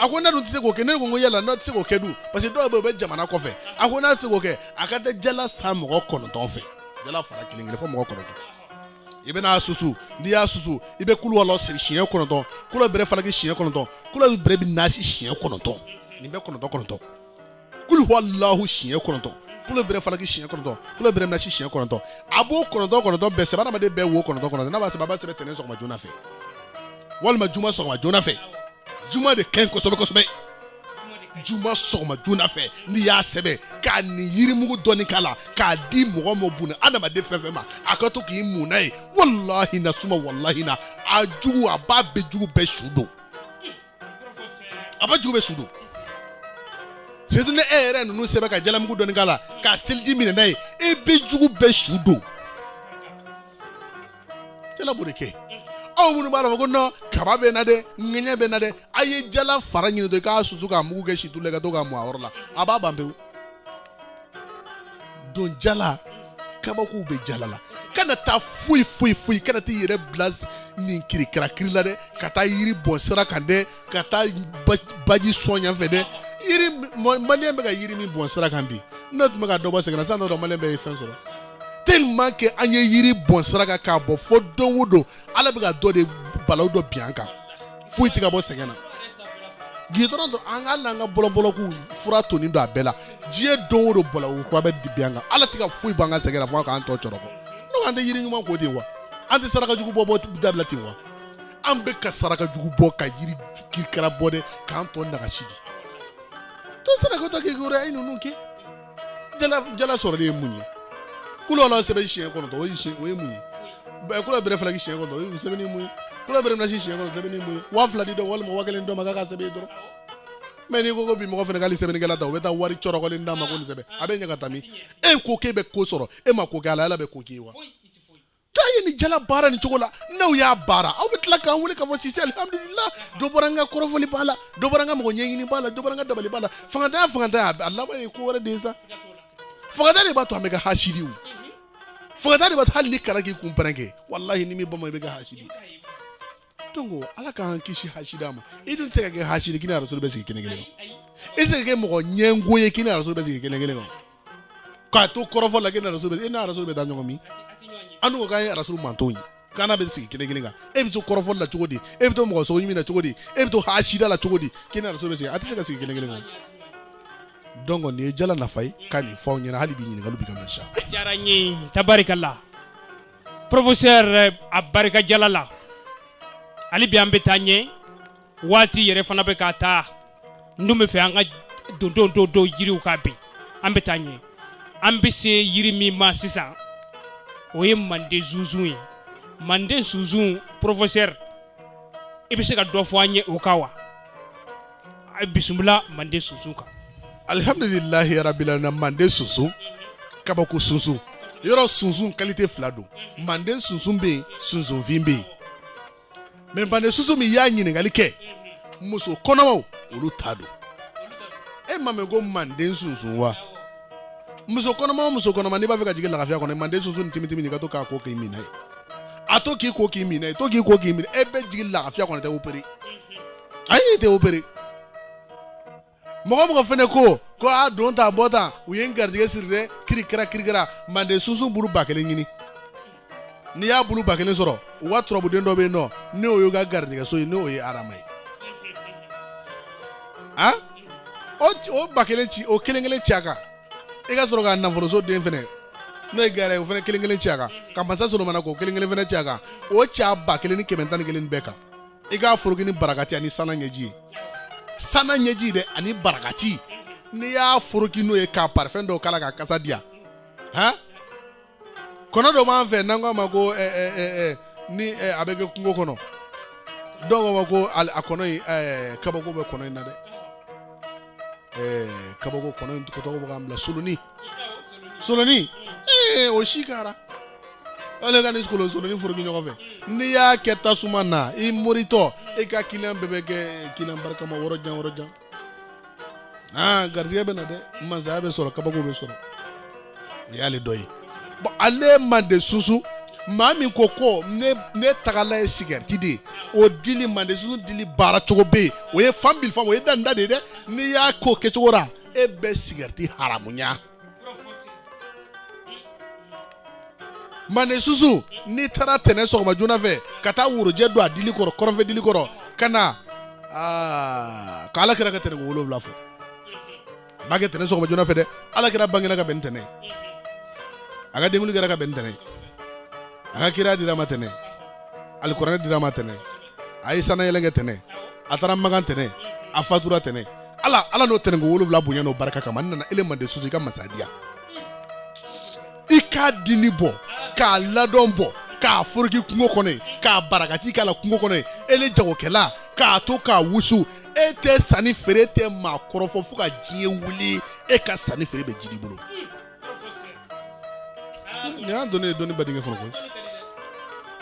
a ko ne dun tɛ se k'o kɛ ne ko n ko yala n'o tɛ se k'o kɛ dun parce que dɔw bɛ yen u bɛ jamana kɔfɛ a ko n'a tɛ se k'o kɛ a ka taa jala san mɔgɔ kɔnɔntɔn fɛ jala fara kelen kelen fo mɔgɔ kɔnɔntɔn i bɛna a susu n'i y'a susu i bɛ kulu wala siri siɲɛ kɔnɔntɔn kulu bɛrɛ falaki siɲɛ kɔnɔntɔn kulu bɛrɛ bɛ nasi siɲɛ kɔnɔntɔn nin bɛɛ kɔnɔntɔn kɔnɔntɔn kulu huwa lahu siɲɛ kɔnɔntɔn kulo bɛrɛ falaki siɲɛ kɔnɔntɔn kulo bɛrɛ nasi siɲɛ kɔnɔntɔn a b'o kɔnɔntɔn kɔnɔntɔn bɛɛ sɛbɛn adamaden bɛɛ wo kɔnɔntɔn kɔnɔntɔn n'a b'a sɛbɛn a b'a sɛbɛn tɛnɛn sɔgɔma joona fɛ walima juma sɔgɔma joona fɛ juma de ka ɲi kosɛbɛ kosɛbɛ juma sɔgɔma joona fɛ n'i y'a sɛbɛn ka nin yirimugu dɔɔni k'a la k'a di mɔgɔ ma buna adamaden fɛn fɛn ma a ka to k'i mun n'a ye walahi na suma walahi na a jugu a b'a bɛɛ jugu bɛɛ su don a b'a jugu bɛɛ su don surtout ni e yɛrɛ ninnu sɛbɛn ka jalamugu dɔɔni k'a la k'a seliji minɛ n'a ye e bɛ jugu bɛɛ su don jala b'o de kɛ aw minnu b'a la ko non kaba bɛ na dɛ ŋɛɲɛ bɛ na dɛ a ye jala fara ɲini dɔrɔn k'a susu k'a mugu kɛ situlu la ka to k'a mun a yɔrɔ la a b'a ban pewu donc jala kabakow bɛ jala la kana taa foyi foyi foyi kana t'i yɛrɛ bila nin kirikira kiri la dɛ ka taa yiri bɔn sira kan dɛ ka taa baji sɔn yan fɛ dɛ yiri maliyɛn bɛ ka yiri min bɔn sira kan bi n'o tun bɛ ka dɔ bɔ sɛgɛn na sisan n'o don maliyɛn bɛɛ ye fɛn sɔrɔ tellement que an ye yiri bɔn sira kan k'a bɔn fo don o don ala bɛ ka dɔ de balawu dɔ bin an kan foyi tɛ ka bɔ sɛgɛn na gidɔrɔn dɔrɔn an ka hali an ka bolon bolonkun fura tonin don a bɛɛ la diɲɛ don o don bɔlɔko kura bɛ dibi an kan ala tɛ ka foyi b'an ka sɛgɛn na fo k'an tɔ cɔrɔkɔ n ko an tɛ yiri ɲuman ko ten wa an tɛ saraka jugu bɔ dabila ten wa an bɛ ka saraka jugu bɔ ka yiri kirikara bɔ de k'an tɔ nagasi di to saraka tɔ k'i kura e ninnu kɛ jala sɔrɔli ye mun ye kuluwala sɛbɛn siɲɛ kɔnɔntɔn o ye o ye mun ye kula bɛrɛ falaki siɲɛ kɔnɔntɔn o ye sɛbɛnni mun ye kula bɛrɛ nasi siɲɛ kɔnɔntɔn sɛbɛnni mun ye waa fila di dɔ walima waa kelen dɔ ma k'a ka sɛbɛn dɔrɔn mais n'i ko ko bi mɔgɔ fana k'ale sɛbɛnnikɛla ta o bɛ taa wari cɔrɔkɔlen d'a ma ko nin sɛbɛn a bɛ ɲɛ ka taa min e ko k'e bɛ ko sɔrɔ e ma ko kɛ ala ala bɛ ko k'i ye wa K'a ye nin jala baara nin cogo la n'aw y'a baara aw bɛ tila k'an wele k'a fɔ Sise alihamudulila dɔ bɔra n ka kɔrɔfɔliba la dɔ bɔra n ka mɔgɔ ɲɛɲiniba la dɔ bɔra n ka dabaliba la fangantanya fangantanya a laban ye ko wɛrɛ de ye sa fangantanya de b'a to an bɛ kɛ hasidi o fangantanya de b'a to hali n'i kalanna k'i kun pɛrɛn kɛ walahi n'i m'i bama i bɛ kɛ hasidi ye Don ala k'an kisi ha ma i dun se ka kɛ hasi k' ara bɛ sigi kelen kelen i se kɛ mɔgɔ ɲɛgo ye k'i ara bɛ sigi kelen kelen kan k'a to kɔrɔfɔ la i ara bɛ da ɲɔgɔn min an ko k'a ye araraso man ye k' bɛ sigi kelen kelen kan e bɛ to kɔrɔfɔ la cogo di e bɛ to mɔgɔ sɔn min na cogo di e bɛ to hada la cogo di k' ara bɛ sigi a tɛ se ka sigi kelen kelen kan dɔn kɔni nin ye jala nafa ye ka nin fɔ ɲɛna hali bɛ ɲininkaka bɛ ka sa tarikala la professeur a barika jala la hali bi an bɛ taa ɲɛ waati yɛrɛ fana bɛ ka taa n dun b'a fɛ an ka don don don don yiriw kan bi an bɛ taa ɲɛ an bɛ se yiri min ma sisan o ye manden sunsun ye manden sunsun professeur i bɛ se ka dɔ fɔ an ye o kan wa A ye bisimila manden sunsun kan alihamdulilahi rabili alamina manden sunsun kabako sunsun yɔrɔ sunsun qualité fila don manden sunsun bɛ yen sunsunfin bɛ yen mais manden sunsun min y'a ɲininkali kɛ muso kɔnɔmaw olu ta don e m'a mɛn ko manden sunsun wa muso kɔnɔma muso kɔnɔma n'i b'a fɛ ka jigin lafiya kɔnɔ manden sunsun timitimi nin ka to k'a ko k'i min n'a ye a to k'i ko k'i min n'a ye to k'i ko k'i min n'a ye e bɛ jigin lafiya kɔnɔ tɛ opéré a y'i tɛ opere mɔgɔ mɔgɔ fɛnɛ ko ko a don ta bɔ ta u ye n garijɛgɛ siri dɛ kirikara kirikara mande sunsun bulu ba kelen ɲini n'i y'a bulu ba kelen sɔrɔ u ka turabuden dɔ bɛ yen nɔ n'o y'u ka garijɛgɛso ye n'o ye adama ye a o ci- o ba kelen ci o kelen kelen ci a kan i ka sɔrɔ ka nafoloso den fɛnɛ n'o ye gɛrɛ ye o fɛnɛ kelen kelen ci a kan ka masa solomana k'o kelen kelen fɛnɛ ci a kan o ci a ba kelen ni kɛmɛ tan ni kelen bɛɛ kan i k'a foroki ni barakati ani sana ɲɛji ye sana ɲɛji dɛ ani barakati n'i y'a foroki n'o ye ka parifɛn dɔw k'a la k'a kasa diya han kɔnɔ dɔ b'an fɛ n'an k'a ma ko eh, eh, eh, eh, ni eh, a bɛ kɛ kungo kɔnɔ dɔw k'a ma ko al- a kɔnɔ in eh, kabako bɛ kɔnɔ in na dɛ kabako kɔnɔ in tɔgɔ bɛ k'an bila soloni solonin o si kɛra ale ka ni kolon solonin foroki ɲɔgɔn fɛ n'i y'a kɛ tasuma na i moritɔ e ka kiliyan bɛɛ bɛ kɛ kiliyan barikama yɔrɔ jan yɔrɔ jan aa garijɛgɛ bɛ na dɛ mansaya bɛ sɔrɔ kabako bɛ sɔrɔ o y'ale dɔ ye bɔn ale mande sunsun maa min ko ko ne ne tagala ye sigɛriti de ye o dili mande sunsun dili baara cogo bɛ yen o ye fan bili fan o ye danda de ye dɛ n'i y'a ko kɛcogo la e bɛ sigɛriti haramuya mande sunsun n'i taara tɛnɛn sɔgɔma joona fɛ ka taa worojɛ don a dili kɔrɔ kɔrɔnfɛ dili kɔrɔ ka na aa k'ala kira ka tɛnɛnko wolonwula fɔ a b'a kɛ tɛnɛn sɔgɔma joona fɛ dɛ ala kira bangena ka bɛn ni tɛnɛn ye a ka denkunli kɛra ka bɛn ni tɛnɛn ye a ka kira dir'a ma tɛnɛn alikuranɛ dir'a ma tɛnɛn a ye sanayɛlɛn kɛ tɛnɛn a taara makan tɛnɛn a fatura tɛnɛn ala ala n'o tɛnɛnko wolonwula bonya n'o barika kama n nana ele mande sunsun i ka masadiya i k'a dili bɔ k'a ladɔn bɔ k'a foroki kungo kɔnɔ yen ka barakati k'a la kungo kɔnɔ yen ele jagokɛla k'a to k'a wusu e tɛ sanni feere e tɛ maa kɔrɔfɔ fo ka diɲɛ wuli e ka sanni feere bɛ jiidi bolo nin y'a dɔnni ye dɔnni badingɛ kɔnɔ koyi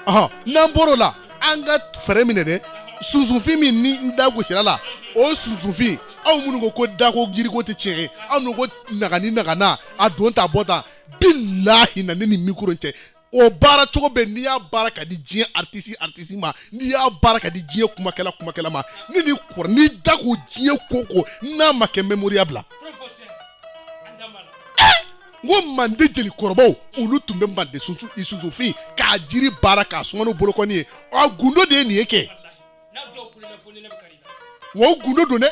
ɔhɔn n'an bɔr'o la an ka fɛɛrɛ minɛ dɛ sunsunfin min ni n da gosir'a la o sunsunfin aw minnu ko ko dako jiriko tɛ tiɲɛ ye aw minnu ko nagani nagana a don ta bɔ ta bilahi na ne ni mikoro cɛ o baara cogo bɛ n'i y'a baara k'a di diɲɛ aritisi aritisi ma n'i y'a baara k'a di diɲɛ kumakɛla kumakɛla ma ni ni kɔrɔ n'i da ko diɲɛ ko ko n'a ma kɛ mɛmoriya bila n ko mande jeli kɔrɔbaw olu tun bɛ mande sunsunfin k'a jiri baara k'a suma ni bolokɔni ye a gundo de ye nin ye kɛ wa o gundo don dɛ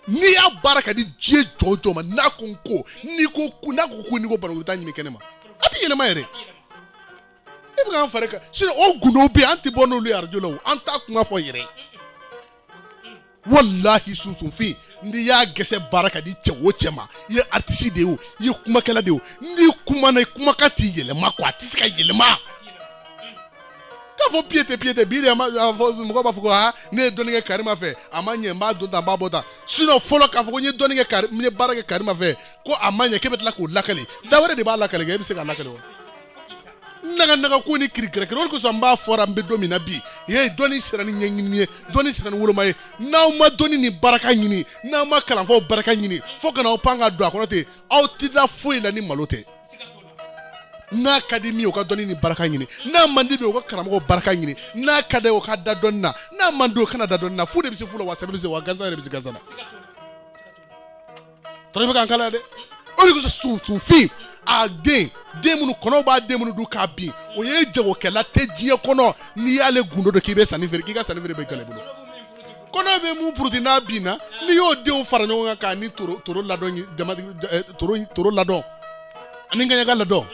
n'i y'a baara k'a di diɲɛ jɔn jɔn ma n'a ko n ko n'i ko ko n'a ko ko n'i ko bana u bɛ taa ɲini kɛnɛ ma a tɛ yɛlɛma yɛrɛ e bɛ k'an fari kan sinon o gundow bɛ yen an tɛ bɔ n'olu ye arajo la o an t'a kuma fɔ yɛrɛ walahi sunsunfin n'i y'a gɛsɛ baara k'a di cɛ o cɛ ma i ye aritisi de ye o i ye kumakɛla de ye o n'i kumana i kumakan tɛ yɛlɛma quoi a tɛ se ka yɛlɛma. k'a fɔ piyete piyete bi de ma mɔgɔ b'a fɔ ko aa ne ye dɔnni kɛ karima fɛ a ma ɲɛ n b'a don tan n b'a bɔ tan sinɔn fɔlɔ k'a fɔ ko n ye dɔnni kɛ kari n ye baara kɛ karima fɛ ko a ma ɲɛ k'e bɛ tila k'o lakali da wɛrɛ de b'a lakali kɛ e bɛ se k'a lakali wa naga naga ko ni kirikirikiri o de kosɔn n b'a fɔra an bɛ don min na bi ye dɔnni sira nin ɲɛɲini ye dɔnni sira nin woloma ye n'aw ma dɔnni ni baraka ɲini n'aw ma kalanfaw baraka ɲini fo ka na aw pan ka don a kɔnɔ ten aw tɛ da foyi la ni malo tɛ n'a ka di min ye o ka dɔnni ni baraka ɲini n'a man di min ye o ka karamɔgɔ baraka ɲini n'a ka di a ye o ka da dɔnni na n'a man di o kana da dɔnni na fu de bɛ se fu la wa sɛbɛ bɛ se wa gansan de bɛ se gansan na tɔrɔ bɛ k'an kalan yan dɛ o de kosɔn sunsunfin a den den minnu kɔnɔw b'a den minnu dun k'a bin o ye jagokɛla tɛ diɲɛ kɔnɔ n'i y'ale gundo dɔn k'i bɛ sanni feere k'i ka sanni feere bɛ gɛlɛya i bolo Kɔnɔ bɛ min puruti n'a binna n'i y'o denw fara ɲɔgɔn kan' ni toro ladɔn jama toro ladɔn ani ngaɲaga ladɔn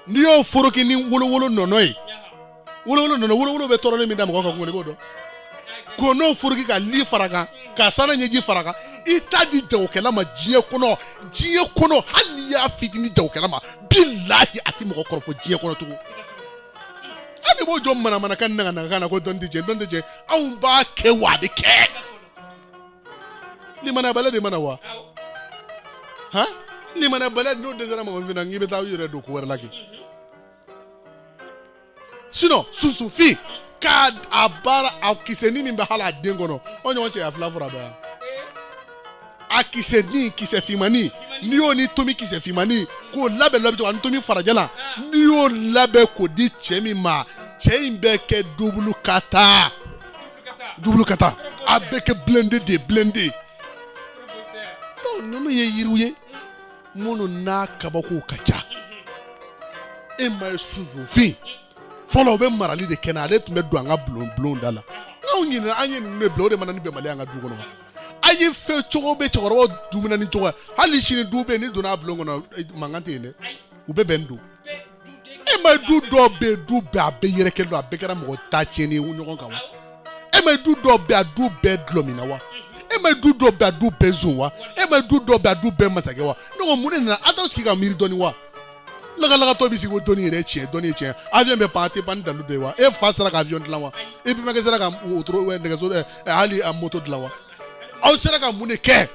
n'i y'o foroki ni wolo wolo nɔnɔ ye wolo nana wolo wolon bɛ tɔɔrɔ min da mɔgɔ ka bolo dɔn ko n'o foroki ka li fara a kan ka sana ɲɛji fara a kan i t'a di jagokɛla ma diɲɛ kɔnɔ diɲɛ kɔnɔ hali i y'a fitinin jagokɛla ma bilahi a tɛ mɔgɔ kɔrɔfɔ diɲɛ kɔnɔ tugun e de b'o jɔ manamana ka na na na ko dɔn tɛ jɛ dɔn tɛ jɛ anw b'a kɛ wa a bɛ kɛ limaniyaba la de mana wa han limaniyaba la de n'o dɛsɛra mɔgɔ min na k'i bɛ taa u yɛrɛ don ko wɛrɛ la kɛ sinon sunsunfin k'a a baara a kisɛni min bɛ hali a den kɔnɔ o ɲɔgɔn cɛya fila fɔra dɔ yan a kisɛni kisɛ fimani n'i y'o ni tomi kisɛ fimani k'o labɛn labɛn cogo ani tomi fara jalan n'i y'o labɛn k'o di cɛ min ma cɛ in bɛ kɛ dubulu ka taa dubulu ka taa a bɛ kɛ blende de blende ninnu ye yiriw ye minnu na kabakow ka ca e m'a ye sunsunfin fɔlɔ o bɛ marali de kɛ na ale tun bɛ don an ka bulon bulon da la nka anw ɲinɛna an ye ninnu de bila o de nana ni bɛnbaliya an ka du kɔnɔ a ye fɛn cogo bɛ cɛkɔrɔba du minɛnen cogo hali sini du bɛ n'i donna a bulon kɔnɔ eh, mankan tɛ yen dɛ u bɛɛ bɛnnen don e m'a ye du dɔw bɛ du bɛɛ a bɛɛ yɛrɛ kelen don a bɛɛ kɛra mɔgɔ ta tiɲɛni ye ɲɔgɔn kan wa e m'a ye du dɔw bɛ a du bɛɛ dɔlɔminna wa e m'a ye du dɔw bɛ a du bɛɛ zon wa e m'a ye du dɔw bɛ a du bɛɛ masakɛ wa ne ko mun de nana aw t'aw sigi ka miiri dɔɔni wa lagalagatɔ bɛ sigi ko dɔnni yɛrɛ tiɲɛ dɔnni ye tiɲɛ avion bɛ pan a tɛ pan ni dalu de ye wa e fa sera ka avion dilan wa e bɛnbakɛ sera ka wotoro nɛgɛso eh, eh, hali a moto dilan wa aw sera ka mun de kɛ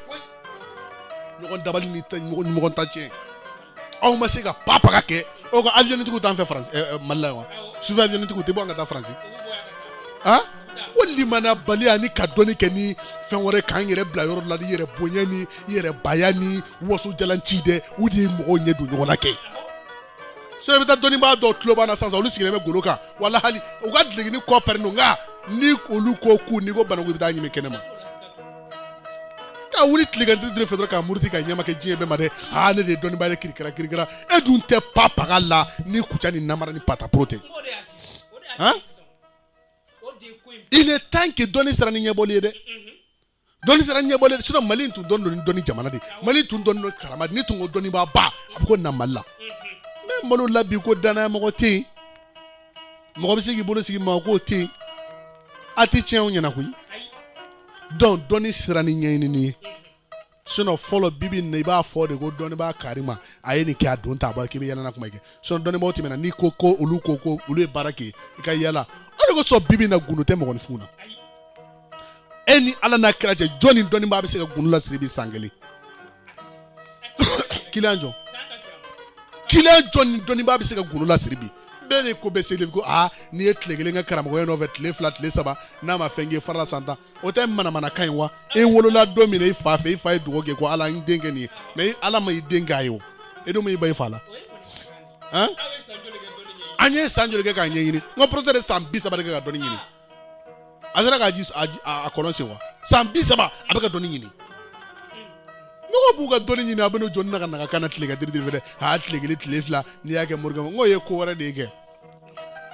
ɲɔgɔn dabali ni ɲɔgɔn ta tiɲɛ aw ma se ka pa paga kɛ aw ka avionnitigiw t'an fɛ faransi eh, mali la yan wa sufɛ avionnitigiw tɛ bɔ yan ka taa faransi ah ko limanabaliya ni ka dɔnni kɛ ni fɛn wɛrɛ k'an yɛrɛ bila yɔrɔ la ni yɛrɛ bonya ni yɛrɛ baya ni wasojalan ci dɛ u de ye mɔgɔw ɲɛ don ɲɔgɔn na kɛ so i bɛ taa dɔnnibaa dɔw tulobana na sisan olu sigilen bɛ golo kan wala hali u ka dulɔkinin kɔ pɛrɛn don nka ni olu ko k'u n'i ko banna ko i bɛ taa ɲini kɛnɛma ka wuli tilegan diri fɛ dɔrɔn ka muruti ka ɲɛma kɛ diɲɛ bɛɛ ma dɛ aa ne de ye dɔnnibaa ye kirikira kirikira e dun tɛ pa paga la ni kuca ni namara ni pataporo tɛ il est temps que dɔnni sera ni ɲɛbɔli ye dɛ dɔnni sera ɲɛbɔli sinon mali in tun dɔnni dɔnni dɔnni jamana de mali tun dɔnni don karama ni tun ko dɔnnibaa ba a bɛ ko na mali la mais mali la bi ko danaya mɔgɔ tɛ yen mɔgɔ bɛ se k'i bolo sigi mɔgɔ kan o tɛ yen a tɛ tiɲɛw ɲɛna koyi dɔn dɔnni sera ni ɲɛɲinini ye sinon fɔlɔ bibi na i b'a fɔ de ko dɔnnibaa kari ma a ye nin kɛ a don ta bɔ k'i bɛ yɛlɛna kuma kɛ sinon dɔnnibaaw tɛmɛna n'i ko ko olu ko ko olu ye baara kɛ i ka yɛlɛ o de kosɔn bibi na gundo tɛ mɔgɔninfin na e ni ala n'a kira cɛ jɔnni dɔnnibaa bɛ se ka gundo lasiri bi san kelen kiliyan jɔn kiliyan jɔnni dɔnnibaa bɛ se ka gundo lasiri bi bɛɛ de k'u bɛ se le ko aa n'i ye tile kelen kɛ karamɔgɔya nɔfɛ tile fila tile saba n'a ma fɛn kɛ i farala san tan o tɛ manamanakan ye wa e wolola don min na i fa fɛ i fa ye dugawu kɛ ko ala n den kɛ nin ye mais ala ma i den k'a ye o e dun ma i ban i fa la an ye san joli kɛ k'a ɲɛɲini n ka porosɛ de san bi saba de kɛ ka dɔnni ɲini a sera k'a ji a kɔlɔn sen wa san bi saba a bɛ ka dɔnni ɲini mɔgɔ b'u ka dɔnni ɲini a bɛ n'o jɔ na kana kana tilegan diri diri fɛ dɛ a tile kelen tile fila n'i y'a kɛ morikɛ n ko ye ko wɛrɛ de ye kɛ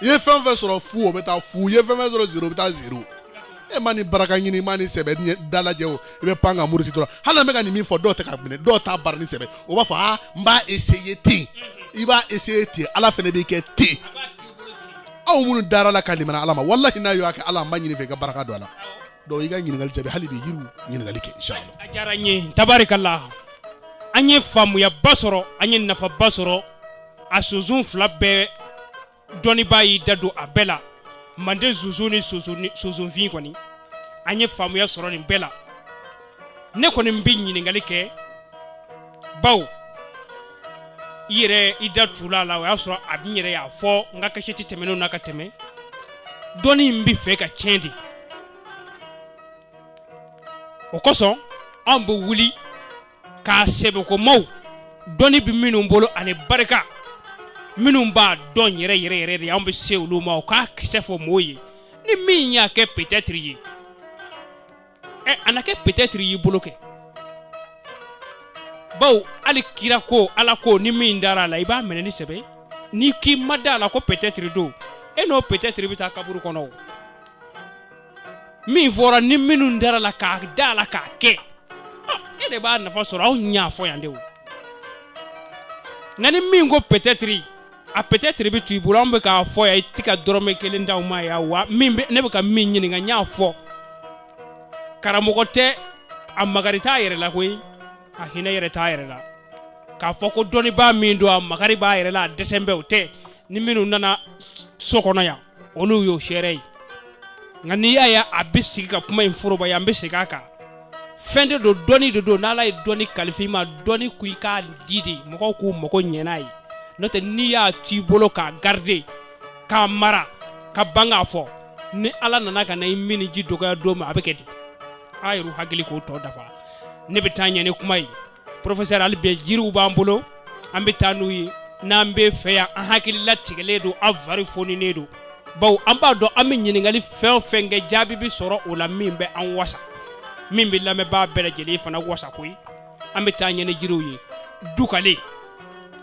i ye fɛn fɛn sɔrɔ fu o bɛ taa fu i ye fɛn fɛn sɔrɔ zero o bɛ taa zero e ma nin baraka ɲini ma nin sɛbɛ dalajɛ o i bɛ pan ka muruti dɔrɔn hali an bɛ ka nin min fɔ dɔw tɛ k'a minɛ dɔw t'a baara ni sɛbɛ o b'a fɔ aa n b'a essayer ten i b'a essayer ten ala fana b'i kɛ ten aw minnu dara a la ka limana ala ma walahi n'aw y'o kɛ ala n b'a ɲini i fɛ i ka baraka don a la donc i ka ɲininkali jaabi hali bi yiriw ɲininkali kɛ inshallah a diyara n ye tabarikala an ye faamuyaba sɔrɔ an ye nafaba sɔrɔ a sunsun fila bɛɛ dɔnnibaa y'i da don a bɛɛ la manden sunsun ni sunsun ni- sunsunfin kɔni an ye faamuya sɔrɔ nin bɛɛ la ne kɔni bɛ ɲininkali kɛ bawo i yɛrɛ i da tula la o y'a sɔrɔ a bɛ n yɛrɛ y'a fɔ n ka kasɛti tɛmɛnenw na ka tɛmɛ dɔnni in bɛ fɛ ka tiɲɛ de o kosɔn anw bɛ wuli k'a sɛbɛkomaw dɔnni bɛ minnu bolo ani barika minnu b'a dɔn yɛrɛ yɛrɛ yɛrɛ de anw bɛ se olu ma u k'a kisɛ fɔ mɔɔw ye ni min y'a kɛ peut-être ye ɛ a na kɛ peut-être y'i bolo kɛ bawo hali kira ko ala ko ni min dara a la i b'a minɛ ni sɛbɛ ye n'i k'i ma da a la ko peut-être don e n'o peut-être bɛ taa kaburu kɔnɔ o min fɔra ni minnu dara a la ka da a la k'a kɛ ah, e de b'a nafa sɔrɔ anw y'a fɔ yan de o nka ni min ko peut-être a peut-être bɛ to i bolo an bɛ k'a fɔ yan i tɛ ka dɔrɔmɛ kelen d'anw ma yan wa min bɛ ne bɛ ka min ɲininka n y'a fɔ karamɔgɔ tɛ a magari t'a yɛrɛ la koyi a hinɛ yɛrɛ t'a yɛrɛ la k'a fɔ ko dɔnnibaa min don a magari b'a yɛrɛ la a dɛsɛn bɛ o tɛ ni minnu nana so kɔnɔ yan olu y'o seere ye nka n'i y'a ye a bɛ sigi ka kuma in forobaya an bɛ segin a kan fɛn de don dɔnni de don n'ala ye dɔnni kalifa i ma dɔnni ko i k'a di de mɔgɔw k'u mago ɲɛ n'a ye n'o tɛ n'i y'a t'i bolo k'a garder k'a mara ka ban k'a fɔ ni ala nana ka na i minniji dɔgɔya don min a bɛ kɛ di a yɛrɛ hakili k'o tɔ dafa ne bɛ taa ɲɛ ni kuma ye professeur hali bi jiriw b'an bolo an bɛ taa n'u ye n'an bɛ fɛ yan an hakili latigɛlen don an fari foninen don bawo an b'a dɔn an bɛ ɲininkali fɛn o fɛn kɛ jaabi bɛ sɔrɔ o la min bɛ an wasa min bɛ lamɛnbaa bɛɛ lajɛlen fana wasa koyi an bɛ taa ɲɛ ni jiriw ye dukale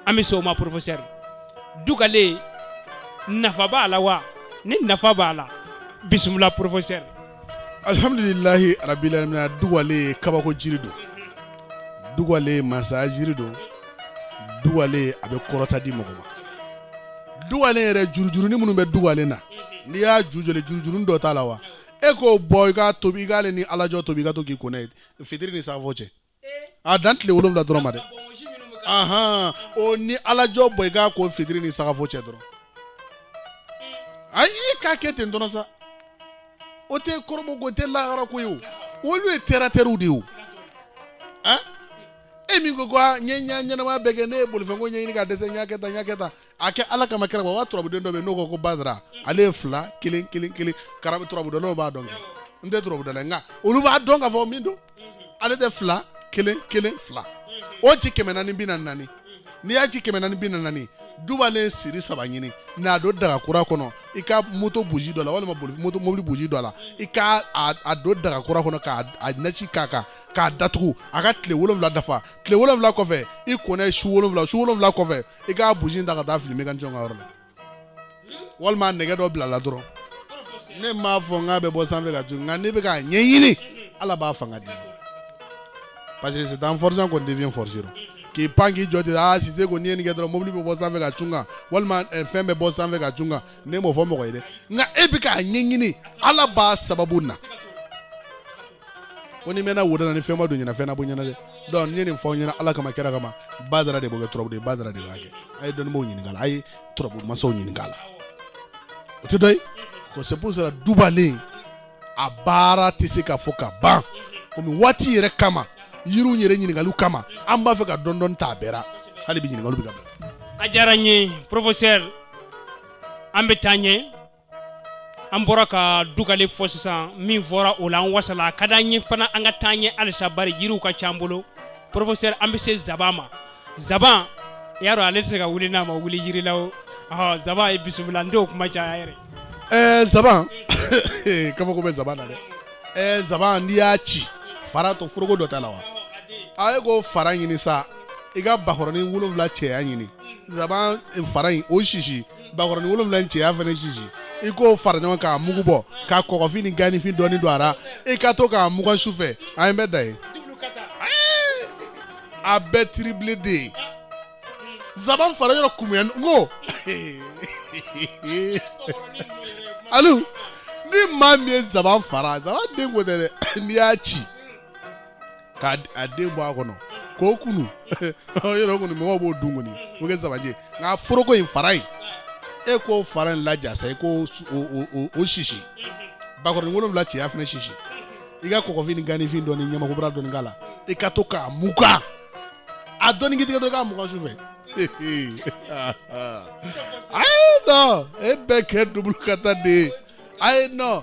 an bɛ se o ma professeur dukale nafa b'a la wa ni nafa b'a la bisimila professeur alihamdulilahi arabilamina dugale kabako jiri don dugale masa jiri don dugale a bɛ kɔrɔta di mɔgɔ ma dugale yɛrɛ jurujurunin minnu bɛ dugale na n'i y'a ju jɔlen jurujurunin dɔ t'a la wa e k'o bɔ i k'a tobi i k'ale ni alajɔ tobi i ka to k'i ko n'a ye fitiri ni sagafo cɛ a dan tile wolonwula dɔrɔn ma dɛ ahan o ni alajɔ bɔ i k'a ko fitiri ni sagafo cɛ dɔrɔn ayi i k'a kɛ ten dɔrɔn sa o tɛ kɔrɔbɔ ko tɛ lahara ko ye o olu ye terre-à-terrew de ye o an e min ko ko a n ye n ka ɲɛnamaya bɛɛ kɛ ne ye bolifɛnko ɲɛɲini ka dɛsɛ n y'a kɛ tan n y'a kɛ tan a kɛ ala kama kɛra wa turabuden dɔ bɛ yen n'o ko ko badara ale ye fila kelen kelen kelen karabu turabudalaw b'a dɔn kɛ n tɛ turabudala ye nka olu b'a dɔn k'a fɔ min don ale tɛ fila kelen kelen fila o ci kɛmɛ naani bi na naani n'i y'a ci kɛmɛ naani bi na naani dubalen siri saba ɲini n'a don daga kura kɔnɔ i ka moto buji dɔ la walima mobili buji dɔ la i ka a don daga kura kɔnɔ ka nasi k'a kan k'a datugu a ka tile wolonwula dafa tile wolonwula kɔfɛ i kɔnɛ su wolonwula su wolonwula kɔfɛ i k'a buji ta ka taa fili mécanicien ka yɔrɔ la walima nɛgɛ dɔ bila la dɔrɔn ne m'a fɔ n k'a bɛ bɔ sanfɛ ka cun nka n'i bɛ k'a ɲɛɲini ala b'a fanga di parce que c'est en forçant qu'on devient forgeron k'i pan k'i jɔ ten aa sise ko n'i ye nin kɛ dɔrɔn mobili bɛ bɔ sanfɛ ka cun kan walima eh, fɛn bɛ bɔ sanfɛ ka cun kan ne m'o fɔ mɔgɔ ye dɛ nka e bɛ k'a ɲɛɲini ala b'a sababu na ko n'i mɛnna wo da na ni fɛn ma don ɲɛna fɛn na bɔ ɲɛna dɛ donc n ye nin fɔ aw ɲɛna ala kama kira kama badara de b'o kɛ turabu de badara de b'a kɛ a ye dɔnnibaaw ɲininka a la a ye turabu masaw ɲininka a la o tɛ dɔ ye ko c'est pour cela dubalen a baara tɛ se ka fɔ ka ban komi waati yɛrɛ kama yiriw yɛrɛ ɲininkaliw kama an b'a fɛ ka dɔɔni dɔɔni ta a bɛɛ ra hali bi ɲininkaliw bɛ ka bila a diyara n ye professeur an bɛ taa ɲɛ an bɔra ka dugale fɔ sisan min fɔra o la an wasala a ka di an ye fana an ka taa ɲɛ halisa bari jiriw ka ca an bolo professeur an bɛ se zaban ma zaban i y'a dɔn ale tɛ se ka wuli n'a ma wuli yiri la o ɔhɔ zaban i bisimila n t'o kuma caya yɛrɛ ɛɛ zaban kabako bɛ zaban na dɛ ɛɛ zaban n'i y'a ci fara to foroko dɔ t'a la wa a ye k'o fara ɲini sa i ka bakɔrɔnin wolonwula cɛya ɲini zaban fara in o sisi bakɔrɔnin wolonwula in cɛya fana sisi i k'o fara ɲɔgɔn k'a mugu bɔ ka kɔgɔfin ni ganifin dɔɔni don a la i ka to k'a mugan su fɛ an ye bɛ da ye a bɛɛ triplé de ye zaban fara yɔrɔ kumuya n ko alu ni maa min ye zaban fara zaban den ko tɛ dɛ n'i y'a ci k'a d- a den bɔ a kɔnɔ k'o kunu yɔrɔ kɔni mɔgɔw b'o dun kɔni o bɛ kɛ zabanji nka foroko in fara in e k'o fara in laja sa i k'o su- o- o- o- o sisi bakɔrɔni wolonwula cɛya fana sisi i ka kɔgɔfin ni ganifin dɔ ni ɲamakobara dɔɔni k'a la i ka to k'a mugan a dɔɔni k'i tigɛ dɔrɔn k'a mugan su fɛ ayi non e bɛ kɛ double ka taa de ye ayi non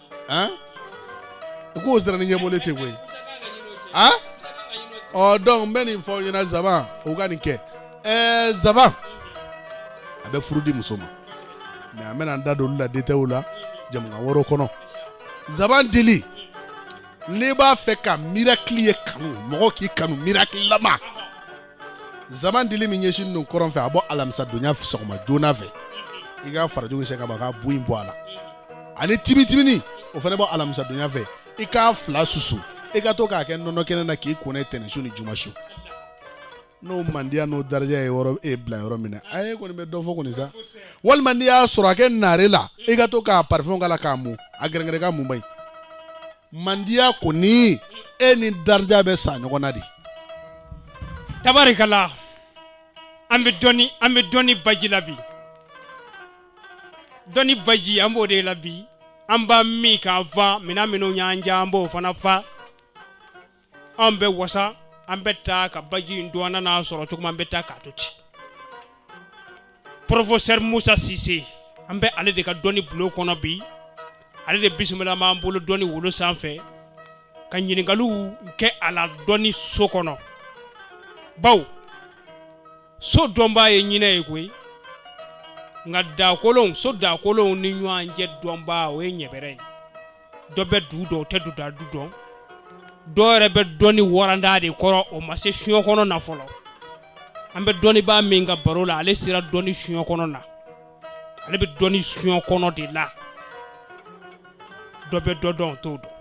Hein? u k'o sara ni ɲɛbɔlen tɛ koyi a ɔ donc n bɛ nin fɔ aw ɲɛna zaban o ka nin kɛ ɛɛ zaban a bɛ furu di muso ma mais an bɛna an da don olu la détail la jɛmukan wɛrɛw kɔnɔ zaban dili n'i b'a fɛ ka mirakili ye kanu mɔgɔ k'i kanu mirakililama zaban dili min ɲɛsin ninnu kɔrɔn fɛ a bɔ alamisa donya sɔgɔma joona fɛ i ka farajugu sɛ ka ban ka bu in bɔ a la ani timitimini o fana bɔ alamisa donya fɛ i k'a fila susu i ka to k'a kɛ nɔnɔ kɛnɛ na k'i ko n'a ye tɛnɛnsu ni jumasu n'o mandiya n'o daraja ye yɔrɔ e bila yɔrɔ min na a ye kɔni bɛ dɔ fɔ kɔni sa walima n'i y'a sɔrɔ a kɛ naare la i ka to ka parifɛn k'a la k'a mun a gɛrɛngɛrɛ ka mun ba in mandiya kɔni e ni daraja bɛ sa ɲɔgɔn na de tabarikala an bɛ dɔni an bɛ dɔni baji la bi dɔni baji an b'o de la bi an b'a min ka fa minɛn minnu y'an ja an b'o fana fa an bɛ wasa an bɛ taa ka baji in to an n'a sɔrɔ cogo min an bɛ taa k'a to ten professeur musa sise an bɛ ale de ka dɔni bulon kɔnɔ bi ale de bisimila b'an bolo dɔni wolo sanfɛ ka ɲininkaliw kɛ a la dɔni so kɔnɔ bawo so dɔnbaa ye ɲinɛ ye koyi nka dakolonw so dakolonw ni ɲɔgɔn cɛ dɔnbaa o ye ɲɛbɛrɛ ye dɔ bɛ du dɔn o tɛ duda du dɔn dɔw yɛrɛ bɛ dɔni waranda de kɔrɔ o ma se soɲɛ kɔnɔna fɔlɔ an bɛ dɔnnibaa min ka baro la ale sera dɔni soɲɛ kɔnɔna ale bɛ dɔni soɲɛ kɔnɔ de la dɔ bɛ dɔ dɔn o t'o dɔn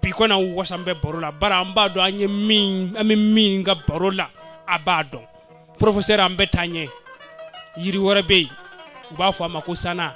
bi kɔni an wasa an bɛ baro la bari an b'a dɔn an ye min an bɛ min ka baro la a b'a dɔn professeur an bɛ taa ɲɛ yiri wɛrɛ bɛ yen u b'a fɔ a ma ko sana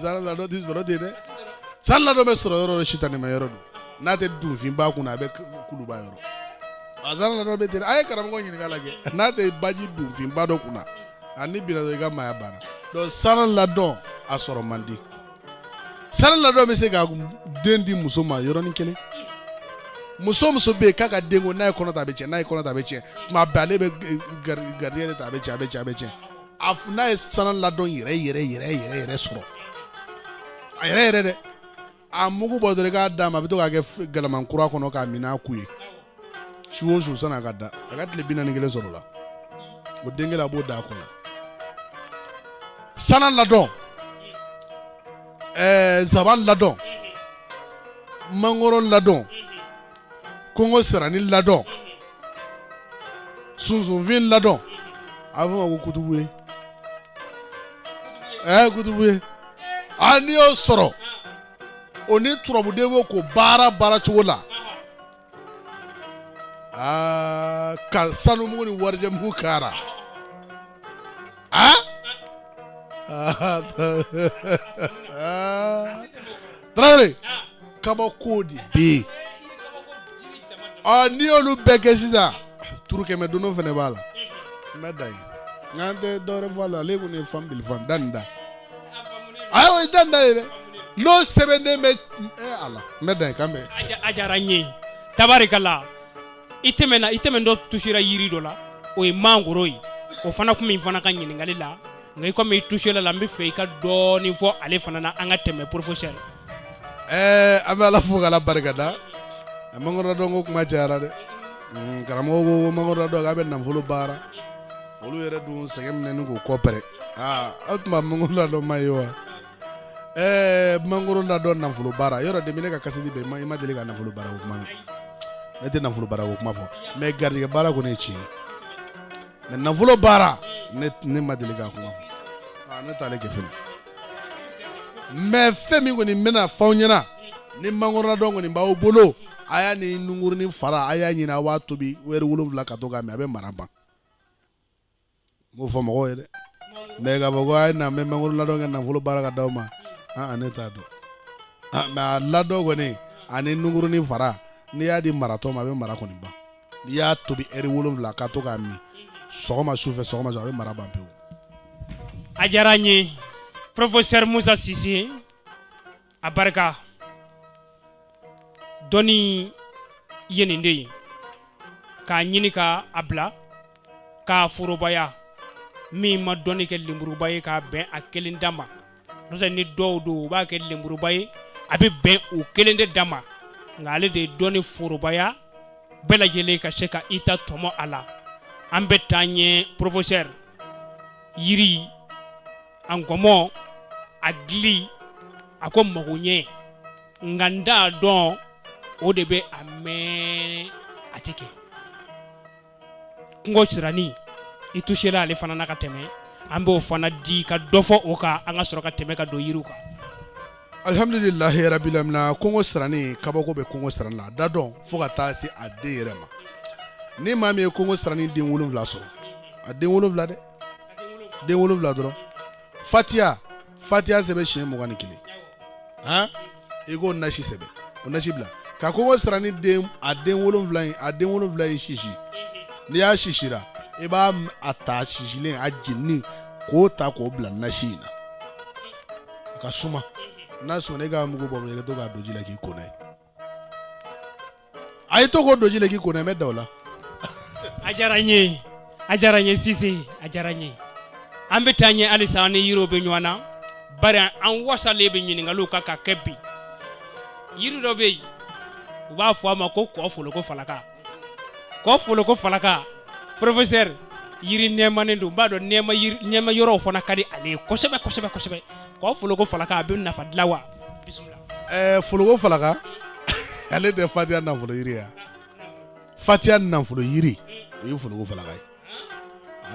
sana ladɔn tɛ sɔrɔ ten dɛ sana ladɔn bɛ sɔrɔ yɔrɔ dɔ sitanɛma yɔrɔ don n'a tɛ dunfinba kunna a bɛ kuluba yɔrɔ a sana ladɔn bɛ ten a ye karamɔgɔ ɲininka lajɛ n'a tɛ baji dunfinba dɔ kunna a n'i binna i ka maaya banna donc sana ladɔn a sɔrɔ man di sana ladɔn bɛ se ka den di muso ma yɔrɔnin kelen muso muso bɛ yen k'a ka den ko n'a ye kɔnɔ ta a bɛ tiɲɛ n'a ye kɔnɔ ta a bɛ tiɲɛ tuma bɛɛ ale bɛ garijɛgɛ de ta a bɛ tiɲɛ a bɛ tiɲɛ a bɛ tiɲɛ a f- n'a ye sana ladɔn yɛrɛ yɛrɛ yɛrɛ yɛrɛ yɛrɛ sɔrɔ a yɛrɛ yɛrɛ dɛ a mugu bɔ dɔrɔn i k'a d'a ma a bɛ to k'a kɛ f- galama kura kɔnɔ k'a min n'a ku ye su o su san'a ka da a ka tile bi naani kelen sɔrɔ o la o den kelen a b'o da a kɔnɔ sana ladɔn ɛɛ zaban ladɔn mangoro ladɔn kongosirani ladɔn sunsunfin ladɔn a bɛ fɔ a ma ko kutubu ye ɛ kutubu ye a n'i y'o sɔrɔ o ni turabu de b'o ko baara baara cogo la aa ka sanumugu ni warijɛmugu kara a tarawele kabako de bɛ yen ɔ n'i y'olu bɛɛ kɛ sisan turu kɛmɛ dondo fana b'a la n bɛ dan yen nka an tɛ dɔwɛrɛ fɔ a la ale kɔni ye fan bili fan danda a y'o ye danda ye dɛ n'o sɛbɛnden bɛ ɛ a la n bɛ dan yen k'an bɛn. a diyara n ye tabarikala i tɛmɛna i tɛmɛntɔ tusera yiri dɔ la o ye mangoro ye o fana tun min fana ka ɲininkali la nka i komi i tusela a la n b'a fɛ i ka dɔɔnin fɔ ale fana na an ka tɛmɛ professeur. ɛɛ an bɛ ala fo k'ala barika da mangoro ladɔn ko kuma cayara dɛ mm, karamɔgɔ ko mangoro ladɔn k'a bɛ nafolo baara olu yɛrɛ dun sɛgɛnnen b'o kɔ pɛrɛ aa aw tun b'a mangoro ladɔn ma ye wa ɛɛ mangoro ladɔn nafolo baara yɔrɔ de bɛ ne ka kasidi bɛɛ i ma deli ka nafolo baara ko kuma ne tɛ nafolo baara ko kuma fɔ mɛ garijɛgɛ baara kɔni ye tiɲɛ ye mɛ nafolo baara ne ma deli k'a kuma fɔ ne t'ale kɛ fɛnɛ mɛ fɛn min kɔni n bɛna fɔ aw ɲɛna ni mangoro ladɔn kɔni b'aw bolo a y'a ni nunkurunin fara a y'a ɲini a b'a tobi wɛri wolonwula ka to k'a min a bɛ mara ban n b'o fɔ mɔgɔw ye dɛ mɛ k'a fɔ ko a ye na n bɛ mangoro ladɔn kɛ nafolo baara ka d'aw ma an ne t'a dɔn mɛ a ladɔn kɔni ani nunkurunin fara n'i y'a di maratɔ ma a bɛ mara kɔni ban n'i y'a tobi wɛri wolonwula ka to k'a min sɔgɔma su fɛ sɔgɔma su a bɛ mara ban pewu a diyara n ye professeur musa sise a barika dɔnni ye nin de ye k'a ɲini k'a bila k'a forobaya min ma dɔnni kɛ lenburuba ye k'a bɛn a kelen da ma n'o tɛ ni dɔw don u b'a kɛ lenburuba ye a bɛ bɛn u kelen de da ma nka ale de ye dɔnni forobaya bɛɛ lajɛlen ka se ka i ta tɔmɔ a la an bɛ taa ɲɛ professeur yiri a nkɔmɔ a gili a ko mago ɲɛ nka n t'a dɔn o de bɛ a mɛn a tɛ kɛ kungo sirani i tusela ale fana na ka tɛmɛ an b'o fana di ka dɔ fɔ o kan an ka sɔrɔ ka tɛmɛ ka don yiriw kan alihamdulilahi rabilamina kungo sirani kabako bɛ kungo sirani la a ladɔn fo ka taa se a den yɛrɛ ma ni maa min ye kungo sirani den wolonwula sɔrɔ a den wolonwula dɛ den wolonwula dɔrɔn fatiya fatiya sɛbɛn siɲɛ mugan ni kelen han i k'o nasi sɛbɛn o nasi bila ka kungo sirani den a den wolonwula in a den wolonwula in sisi n'i y'a sisira i b'a m- a ta sisilen a jeninen k'o ta k'o bila nasi in na a ka suma n'a sumana i k'a mugu bɔ i ka to k'a don ji la k'i ko n'a ye a ye to k'o don ji la k'i ko n'a ye dawula a diyara n ye a diyara n ye sise a diyara n ye an bɛ taa ɲɛ halisa an ni yiriw bɛ ɲɔgɔn na bari an wasalen bɛ ɲininkaliw kan ka kɛ bi yiri dɔ bɛ yen u b'a fɔ a ma ko ko foloko falaka ko foloko falaka professeur yiri nɛɛmanen don n b'a dɔn nɛɛma yiri nɛɛma yɔrɔw fana ka di ale ye kosɛbɛ kosɛbɛ kosɛbɛ ko foloko falaka a bɛ nafa dilan wa bisimila ɛɛ foloko falaka ale tɛ fatiya nafolo yiri ye wa fatiya nafolo yiri o ye foloko falaka ye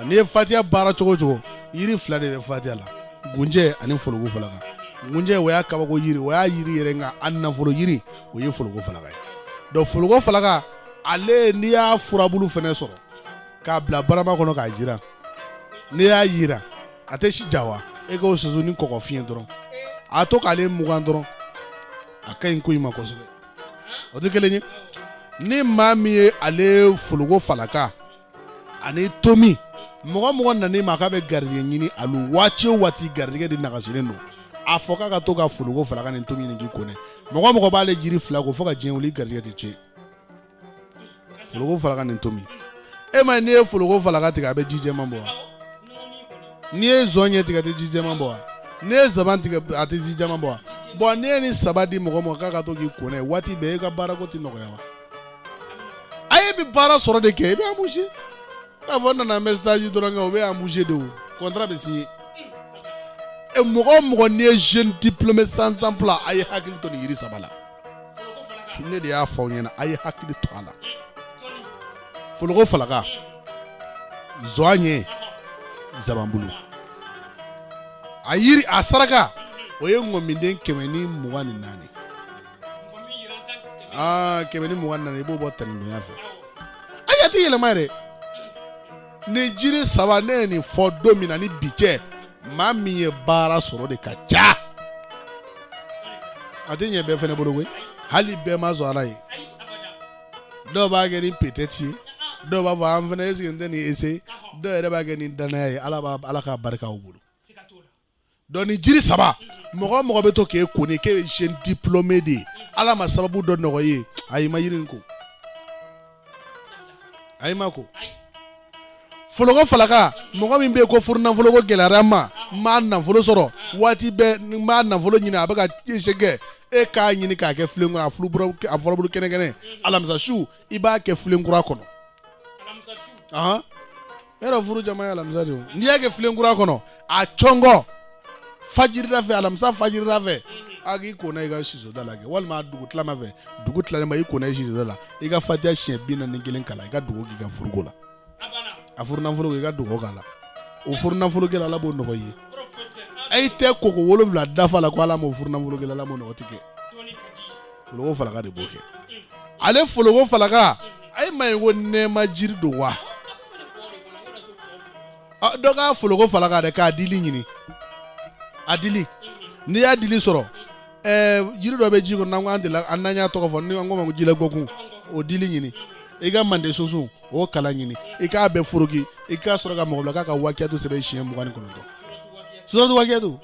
N'i ye fatiya baara cogo cogo yiri fila de bɛ fatiya la gunjɛ ani foloko falaka gunjɛ o y'a kabako yiri o y'a yiri yɛrɛ nka a nafolo yiri o ye foloko falaka ye dɔn foloko falaka ale n'i y'a furabulu fana sɔrɔ k'a bila barama kɔnɔ k'a jiran n'i y'a jiran a tɛ si ja wa e k'o susu ni kɔgɔfin ye dɔrɔn a to k'ale mugan dɔrɔn a ka ɲi ko i ma kosɛbɛ o tɛ kelen ye ni maa min ye ale fologo falaka ani tomi mɔgɔ mɔgɔ nana i ma k'a bɛ garijɛgɛ ɲini a waati o waati garijɛgɛ de nagasilen don a fɔ k'a ka to ka fologo falaka ni tomi ɲini k'i ko n'a ye mɔgɔ mɔgɔ b'ale jiri fila ko fo ka diɲɛ wuli garijɛgɛ tɛ tiɲɛ fologo falaka ni tomi e ma n'i ye fologo falaka tigɛ a bɛ ji jɛman bɔ wa n'i ye zɔnɲɛ tigɛ a tɛ ji jɛman bɔ wa n'i ye zaban tigɛ a tɛ ji jɛman bɔ wa bon n'i ye nin saba di mɔgɔ ma k'a ka to k'i ko n'a ye waati bɛɛ e ka baarako tɛ nɔgɔya wa a ye bi baara sɔrɔ de kɛ i bɛ embauché k'a fɔ n nana n bɛ sitaji dɔrɔn kɛ o bɛ embauché de o contrat bɛ signé mɔgɔ mɔgɔ n'i ye jeune diplômé sans emploi a ye hakili to nin yiri saba la ne de y'a fɔ aw ɲɛna a ye hakili to a la foloko falaka zɔnɲɛ zabanbulu a yiri a saraka o ye ŋɔminden kɛmɛ ni mugan ni naani aa kɛmɛ ni mugan ni naani i b'o bɔ tɛnɛndonya fɛ ayi a tɛ yɛlɛma yɛrɛ nin jiri saba ne ye nin fɔ don min na ni bi cɛ maa min ye baara sɔrɔ de ka ca a tɛ ɲɛ bɛɛ fana bolo koyi hali bɛɛ ma sɔn ala ye dɔw b'a kɛ ni peut-être ye dɔw b'a fɔ an fana est-ce que n tɛ nin essayer dɔw yɛrɛ b'a kɛ ni danaya ye aa ala k'a barika u bolo dɔnku nin jiri saba mɔgɔ mɔgɔ bɛ to k'e ko ni k'e ye jeune diplômé de ye ala ma sababu dɔ nɔgɔya a y'i ma yiri nin ko a y'i ma ko foloko falaka mɔgɔ min bɛ yen ko furu nafolo ko gɛlɛyara n ma n m'a nafolo sɔrɔ waati bɛɛ n b'a nafolo ɲini a bɛ ka kɛ e k'a ɲini k'a kɛ filen kɔnɔ a furabulu a furabulu kɛnɛ kɛnɛ alamisa su i b'a kɛ filen kura kɔnɔ ahan yɔrɔ furu jama ye alamisa de ye o. n'i y'a kɛ filen kura kɔnɔ a cɔngɔ fajirida fɛ alamisa fajirida fɛ a k'i ko n'a i ka sisoda la kɛ walima a dugu tilama fɛ dugu tilalen ba i ko n'a i sisoda la i ka fatiya siɲɛ bi naani ni kelen kalan i ka dugawu k'i ka furuko la a furu nafolo i ka dugawu k'a la o furu nafolo kɛra ala b'o nɔgɔya ayi tɛ koko wolowula dafa la ko ala m'o furu nafolo kɛra ala m'o nɔgɔ tigɛ foloko falaka de b'o kɛ ale foloko falaka ayi m'a ye ko nɛɛma jiri don wa dɔ k'a foloko falaka dɛ k'a dili ɲini a dili n'i y'a dili sɔrɔ ɛɛ jiri dɔ bɛ ji kɔnɔ n'an ko an delila an n'an y'a tɔgɔ fɔ ni an k'o ma ko jila ngɔkun o dili ɲini i ka mande sunsun o kala ɲini i k'a bɛɛ foroki i ka sɔrɔ ka mɔgɔ bila k'a ka wakiyatu sɛbɛn siɲɛ mugan ni kɔnɔntɔn suratu wakiyatu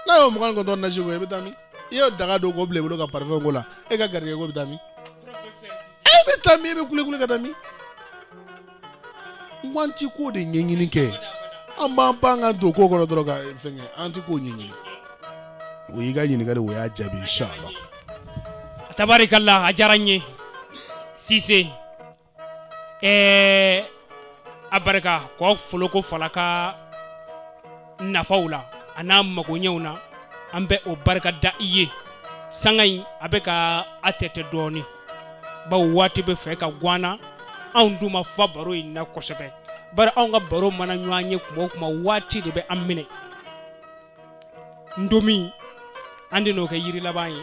n'a y'o mugan ni kɔnɔntɔn nasi ko i bɛ taa min i y'o daga don k'o bila i bolo ka parifɛn ko la e ka garijɛgɛ ko bɛ taa min e bɛ taa min i bɛ kulikuli ka taa min n ko an ti ko de ɲɛɲini kɛ an b'an pan ka don ko kɔrɔ dɔrɔn ka fɛnkɛ an ti ko ɲɛɲini o y'i ka ɲininkali o y'a jaabi inshallah tabarikala a diyara n ye sise ɛɛ a barika ko foloko falaka nafaw la an'a magoɲɛw na an bɛ o barika da i ye sanga in a bɛ ka a tɛtɛ dɔɔni bawo waati bɛ fɛ ka gwan an na anw dun ma fa baro in na kosɛbɛ bari anw ka baro mana ɲɔgɔn ye kuma o kuma waati de bɛ an minɛ ntomi an bɛn'o kɛ yiri laban ye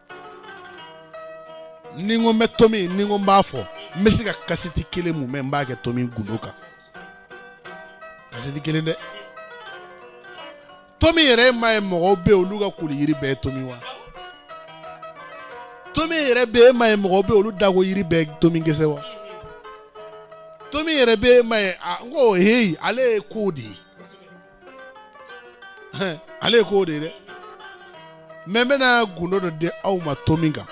ni n ko n bɛ tomi ni n ko n b'a fɔ n bɛ se ka kasɛti kelen mumɛ n b'a kɛ tomi gundo kan kasɛti kelen dɛ tomi yɛrɛ m'a ye mɔgɔw bɛ olu ka koli yiri bɛɛ ye tomi wa tomi yɛrɛ bɛ e m'a ye mɔgɔw bɛ olu dako yiri bɛɛ ye tomi gɛsɛ wa tomi yɛrɛ bɛ e m'a ye a n ko heyi ale ye ko de ye ale ye ko de ye dɛ mɛ n bɛna gundo dɔ di aw ma tomi kan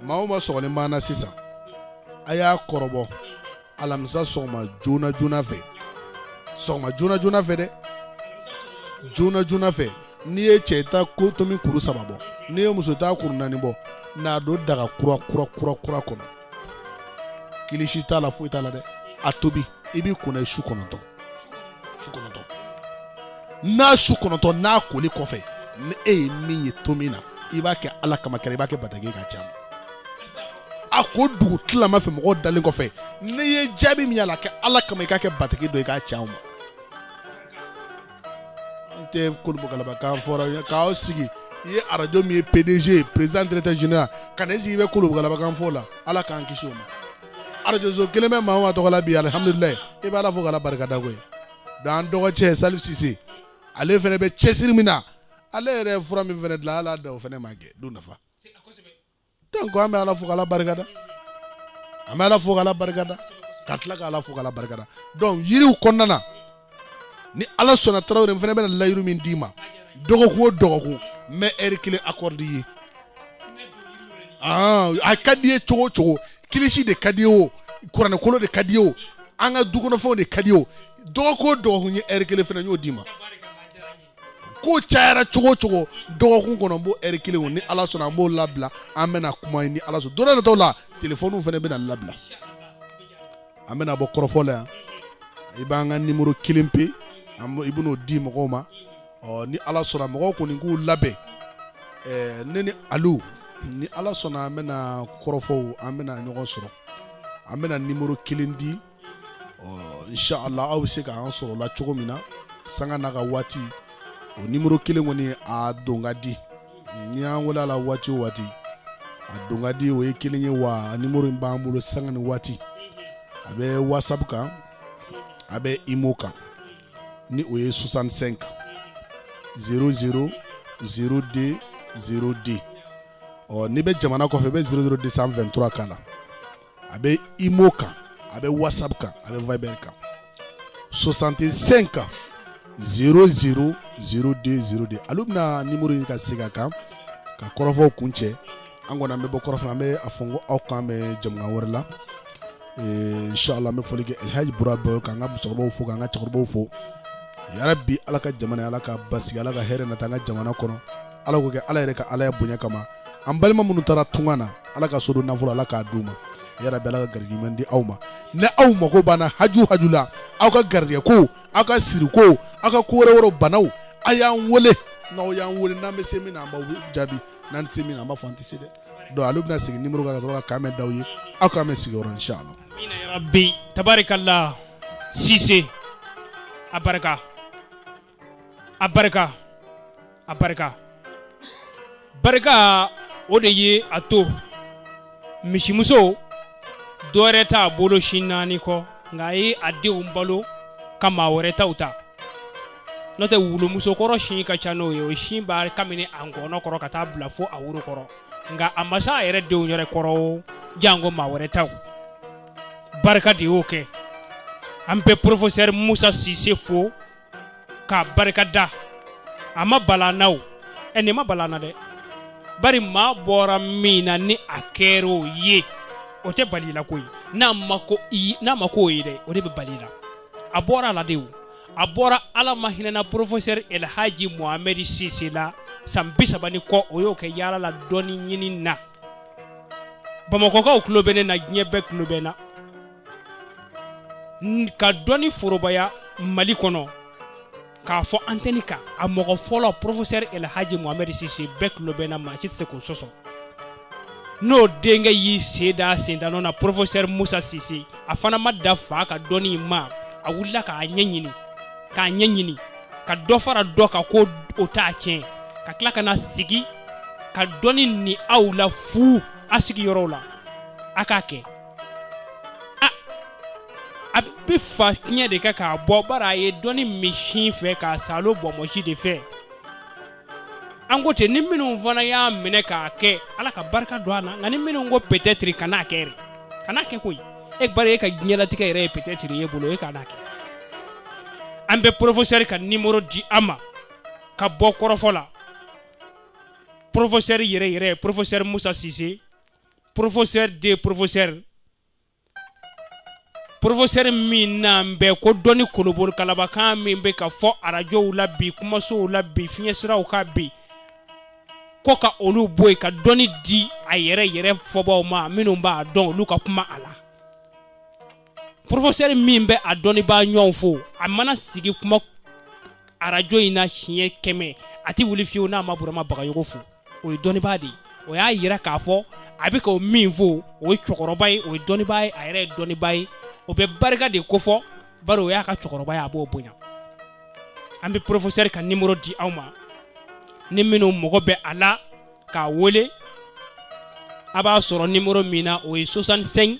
maa o maa sɔgɔlen b'an na sisan a y'a kɔrɔbɔ alamisa sɔgɔma joona joona fɛ sɔgɔma joona joona fɛ dɛ joona joona fɛ n'i ye cɛ i ta ko tomi kuru saba bɔ n'i ye muso ta kuru naani bɔ n'a don daga kura kura kura kura kɔnɔ kilisi t'a la foyi t'a la dɛ a tobi i b'i ko n'a ye su kɔnɔntɔn n'a su kɔnɔntɔn n'a koli kɔfɛ ni e ye min ye to min na i b'a kɛ ala kama kɛra i b'a kɛ bataki k'a ci a ko dugu tilama fɛ mɔgɔw dalen kɔfɛ n'i ye jaabi min y'a la a kɛ ala kama i k'a kɛ bataki dɔ i k'a ci an ma an tɛ kolobogalaba kan fɔ ra k'aw sigi i ye arajo min ye pdg ye président directeur général ka na i sigi i bɛ kolobogalaba kan fɔ o la ala k'an kisi o ma arajoso kelen bɛ maa o maa tɔgɔ la bi alihamdulilayi i bɛ ala fo ka ala barika da koyi dɔnku an dɔgɔcɛ salifu sise ale fana bɛ cɛsiri min na ale yɛrɛ ye fura min fana dilan ala da o fana ma kɛ du nafa dɔnku an bɛ ala fo k' ala barika da an bɛ ala fo k' ala barika da ka tila k' ala fo k' ala barika da dɔnku yiriw kɔnɔna na ni ala sɔnna tarawele fana bɛna layiru min d'i ma dɔgɔkun o dɔgɔkun n bɛ ɛri kelen akɔrɔde i ye ah, a ka di ye cogo o cogo kilisi de ka di ye o kuranɛkolo de ka di ye o an ka dukɔnɔfɛnw de ka di ye o dɔgɔkun o dɔgɔkun ye ɛri kelen fana y'o d'i ma ko cayara cogo o cogo dɔgɔkun kɔnɔ n b'o ɛri kelen ni ala sɔnna an b'o labila an bɛna kuma ni ala sɔnna don dɔ nataw la telefɔniw fana bɛna labila an bɛna bɔ kɔrɔfɔ la yan i b'an ka nimoro kelen pe i bɛn'o di mɔgɔw ma ɔ ni ala sɔnna mɔgɔw kɔni k'u labɛn ɛɛ ne ni alu ni ala sɔnna an bɛna kɔrɔfɔ an bɛna ɲɔgɔn sɔrɔ an bɛna nimoro kelen di inshallah aw bɛ se k' an sɔrɔ la cogo min na sanga n'a ka waati o nimuru kelen kɔni a don ka di n'i y'an wele a la waati o waati a don ka di o ye kelen ye wa nimuru in b'an bolo sanga ni waati a bɛ wasapu kan a bɛ imo kan ni o ye soixante-cinq zéro zéro zéro deux zéro deux ɔ n'i bɛ jamana kɔfɛ i bɛ zéro zéro deux cent vingt-trois k'a la a bɛ imo kan a bɛ wasapu kan a bɛ viber kan soixante-cinq zéro zéro zéro deux zéro deux alu bɛna nimuru in ka segin a kan ka kɔrɔfɔ kuncɛ an kɔni an bɛ bɔ kɔrɔfɔ an bɛ a fɔ ko aw k'an bɛn jɛmukan wɛrɛ la inshallah an bɛ foli kɛ alihaji bɔra bɔ k'an ka musokɔrɔbaw fo k'an ka cɛkɔrɔbaw fo yarabi ala ka jamana ala k'a basigi ala ka hɛrɛ nati an ka jamana kɔnɔ ala k'o kɛ ala yɛrɛ ka alaya bonya kama an balima minnu taara tunga na ala ka sodon nafolo ala k'a d'u ma yarabi ala ka garijɛ ɲuman di aw ma ni aw mago bɛna haju haju la aw ka garijɛ ko aw ka siri ko aw ka ko wɛrɛ wɛrɛ banaw a y'an wele n'aw y'an wele n'an bɛ se min na an b'aw jaabi n'an tɛ se min na an b'a fɔ an tɛ se dɛ donc alu bɛna segin nimoro kan ka sɔrɔ ka k'an bɛn d'aw ye aw k'an bɛn sigi wɛrɛ inshallah. amiina yarabi tabarikala sise a barika. a barika a barika barika o de ye a to misimuso dɔwɛrɛ t'a bolo sin naani kɔ nka a ye a denw balo ka maa wɛrɛ taw ta n'o tɛ wulumusokɔrɔ sin ka ca n'o ye o sin b'a kabini a ngɔnɔ kɔrɔ ka taa bila fo a woro kɔrɔ nka a ma se a yɛrɛ denw yɛrɛ kɔrɔ janko maa wɛrɛ taw barika de y'o kɛ an bɛ porofosɛri musa sise fo k'a barika da a ma bala n na o ɛ nin ma bala n na dɛ bari maa bɔra min na ni a kɛra o ye o tɛ bal'i la koyi n'a ma kɛ o ye dɛ o de bɛ bal'i la a bɔra a la de o a bɔra ala ma hinɛna porofosɛri elhaji mohamɛdi sise la san bi saba ni kɔ o y'o kɛ yaala la dɔnni ɲini na bamakɔkaw tulo bɛ ne na diɲɛ bɛɛ tulo bɛ n na ka dɔnni forobaya mali kɔnɔ k'a fɔ antɛni kan a mɔgɔ fɔlɔ professeur elhaji mohamɛd sise bɛɛ tulo bɛ n na maa si tɛ se k'o sɔsɔ n'o denkɛ y'i sen da a sendanɔ na professeur musa sise a fana ma da fa ka dɔnni in ma a wulila k'a ɲɛɲini k'a ɲɛɲini ka dɔ fara dɔ kan ko o t'a tiɲɛ ka tila ka na sigi ka dɔnni ni aw la fu a sigiyɔrɔw la a k'a kɛ a bɛ fa tiɲɛ de kɛ k'a bɔ bari a ye dɔnni min sin fɛ k'a saalo bonbonsi de fɛ an ko ten ni minnu fana y'a minɛ k'a kɛ ala ka barika don a na nka ni minnu ko peut-être kan'a kɛ kan'a kɛ koyi bari e ka diɲɛlatigɛ yɛrɛ ye peut-être ye bolo e kan'a kɛ an bɛ professeur ka numéro di aw ma ka bɔ kɔrɔfɔ la professeur yɛrɛ yɛrɛ professeur Musa Sise professeur des professeurs porofosɛri min n'an bɛɛ ko dɔnni kolobori kalabakan min bɛ ka fɔ arajow la bi kumasow la bi fiɲɛsiraw kan bi ko ka olu bɔ yen ka dɔnni di a yɛrɛ yɛrɛ fɔbaw ma minnu b'a dɔn olu ka kuma a la porofosɛri min bɛ a dɔnnibaa ɲɔgɔn fo a mana sigi kuma arajo in na siɲɛ kɛmɛ a tɛ wuli fiyewu n'a ma burama bagayogo fo o ye dɔnnibaa de ye o y'a yira k'a fɔ a bɛ ka o min fo o ye cɛkɔrɔba ye o ye dɔnnibaa ye a yɛrɛ ye dɔnnibaa ye o bɛ barika de kofɔ bari o y'a ka cɛkɔrɔba ye a b'o bonya an bɛ porofosɛri ka nimoro di aw ma ni minnu mago bɛ a la k'a wele a b'a sɔrɔ nimoro min na o ye 65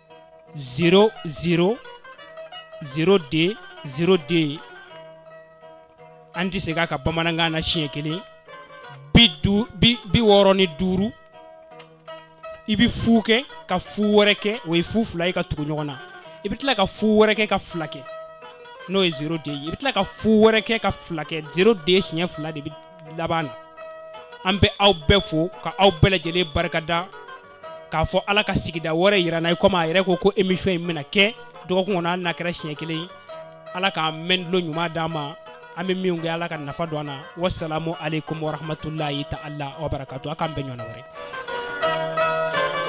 0 0 0 de 0 de an tɛ segin a kan bamanankan na siɲɛ kelen bi wɔɔrɔ ni duuru i bɛ fu kɛ ka fu wɛrɛ kɛ o ye fu fila ye ka tugu ɲɔgɔn na i bɛ tila ka fu wɛrɛ kɛ ka fila kɛ n'o ye zero de ye i bɛ tila ka fu wɛrɛ kɛ ka fila kɛ zero de siɲɛ fila de bɛ laban na an bɛ aw bɛɛ fo ka aw bɛɛ lajɛlen barikada k'a fɔ ala ka sigida wɛrɛ yira an na komi a yɛrɛ ko ko émission in bɛna kɛ dɔgɔkun kɔnɔ hali n'a kɛra siɲɛ kelen ala k'a mɛn tulo ɲuman d'an ma an bɛ min kɛ ala ka nafa don an na wasalamu aleykum warahmatulahi taala wabarakatu a k'an bɛn ɲɔgɔn wɛrɛ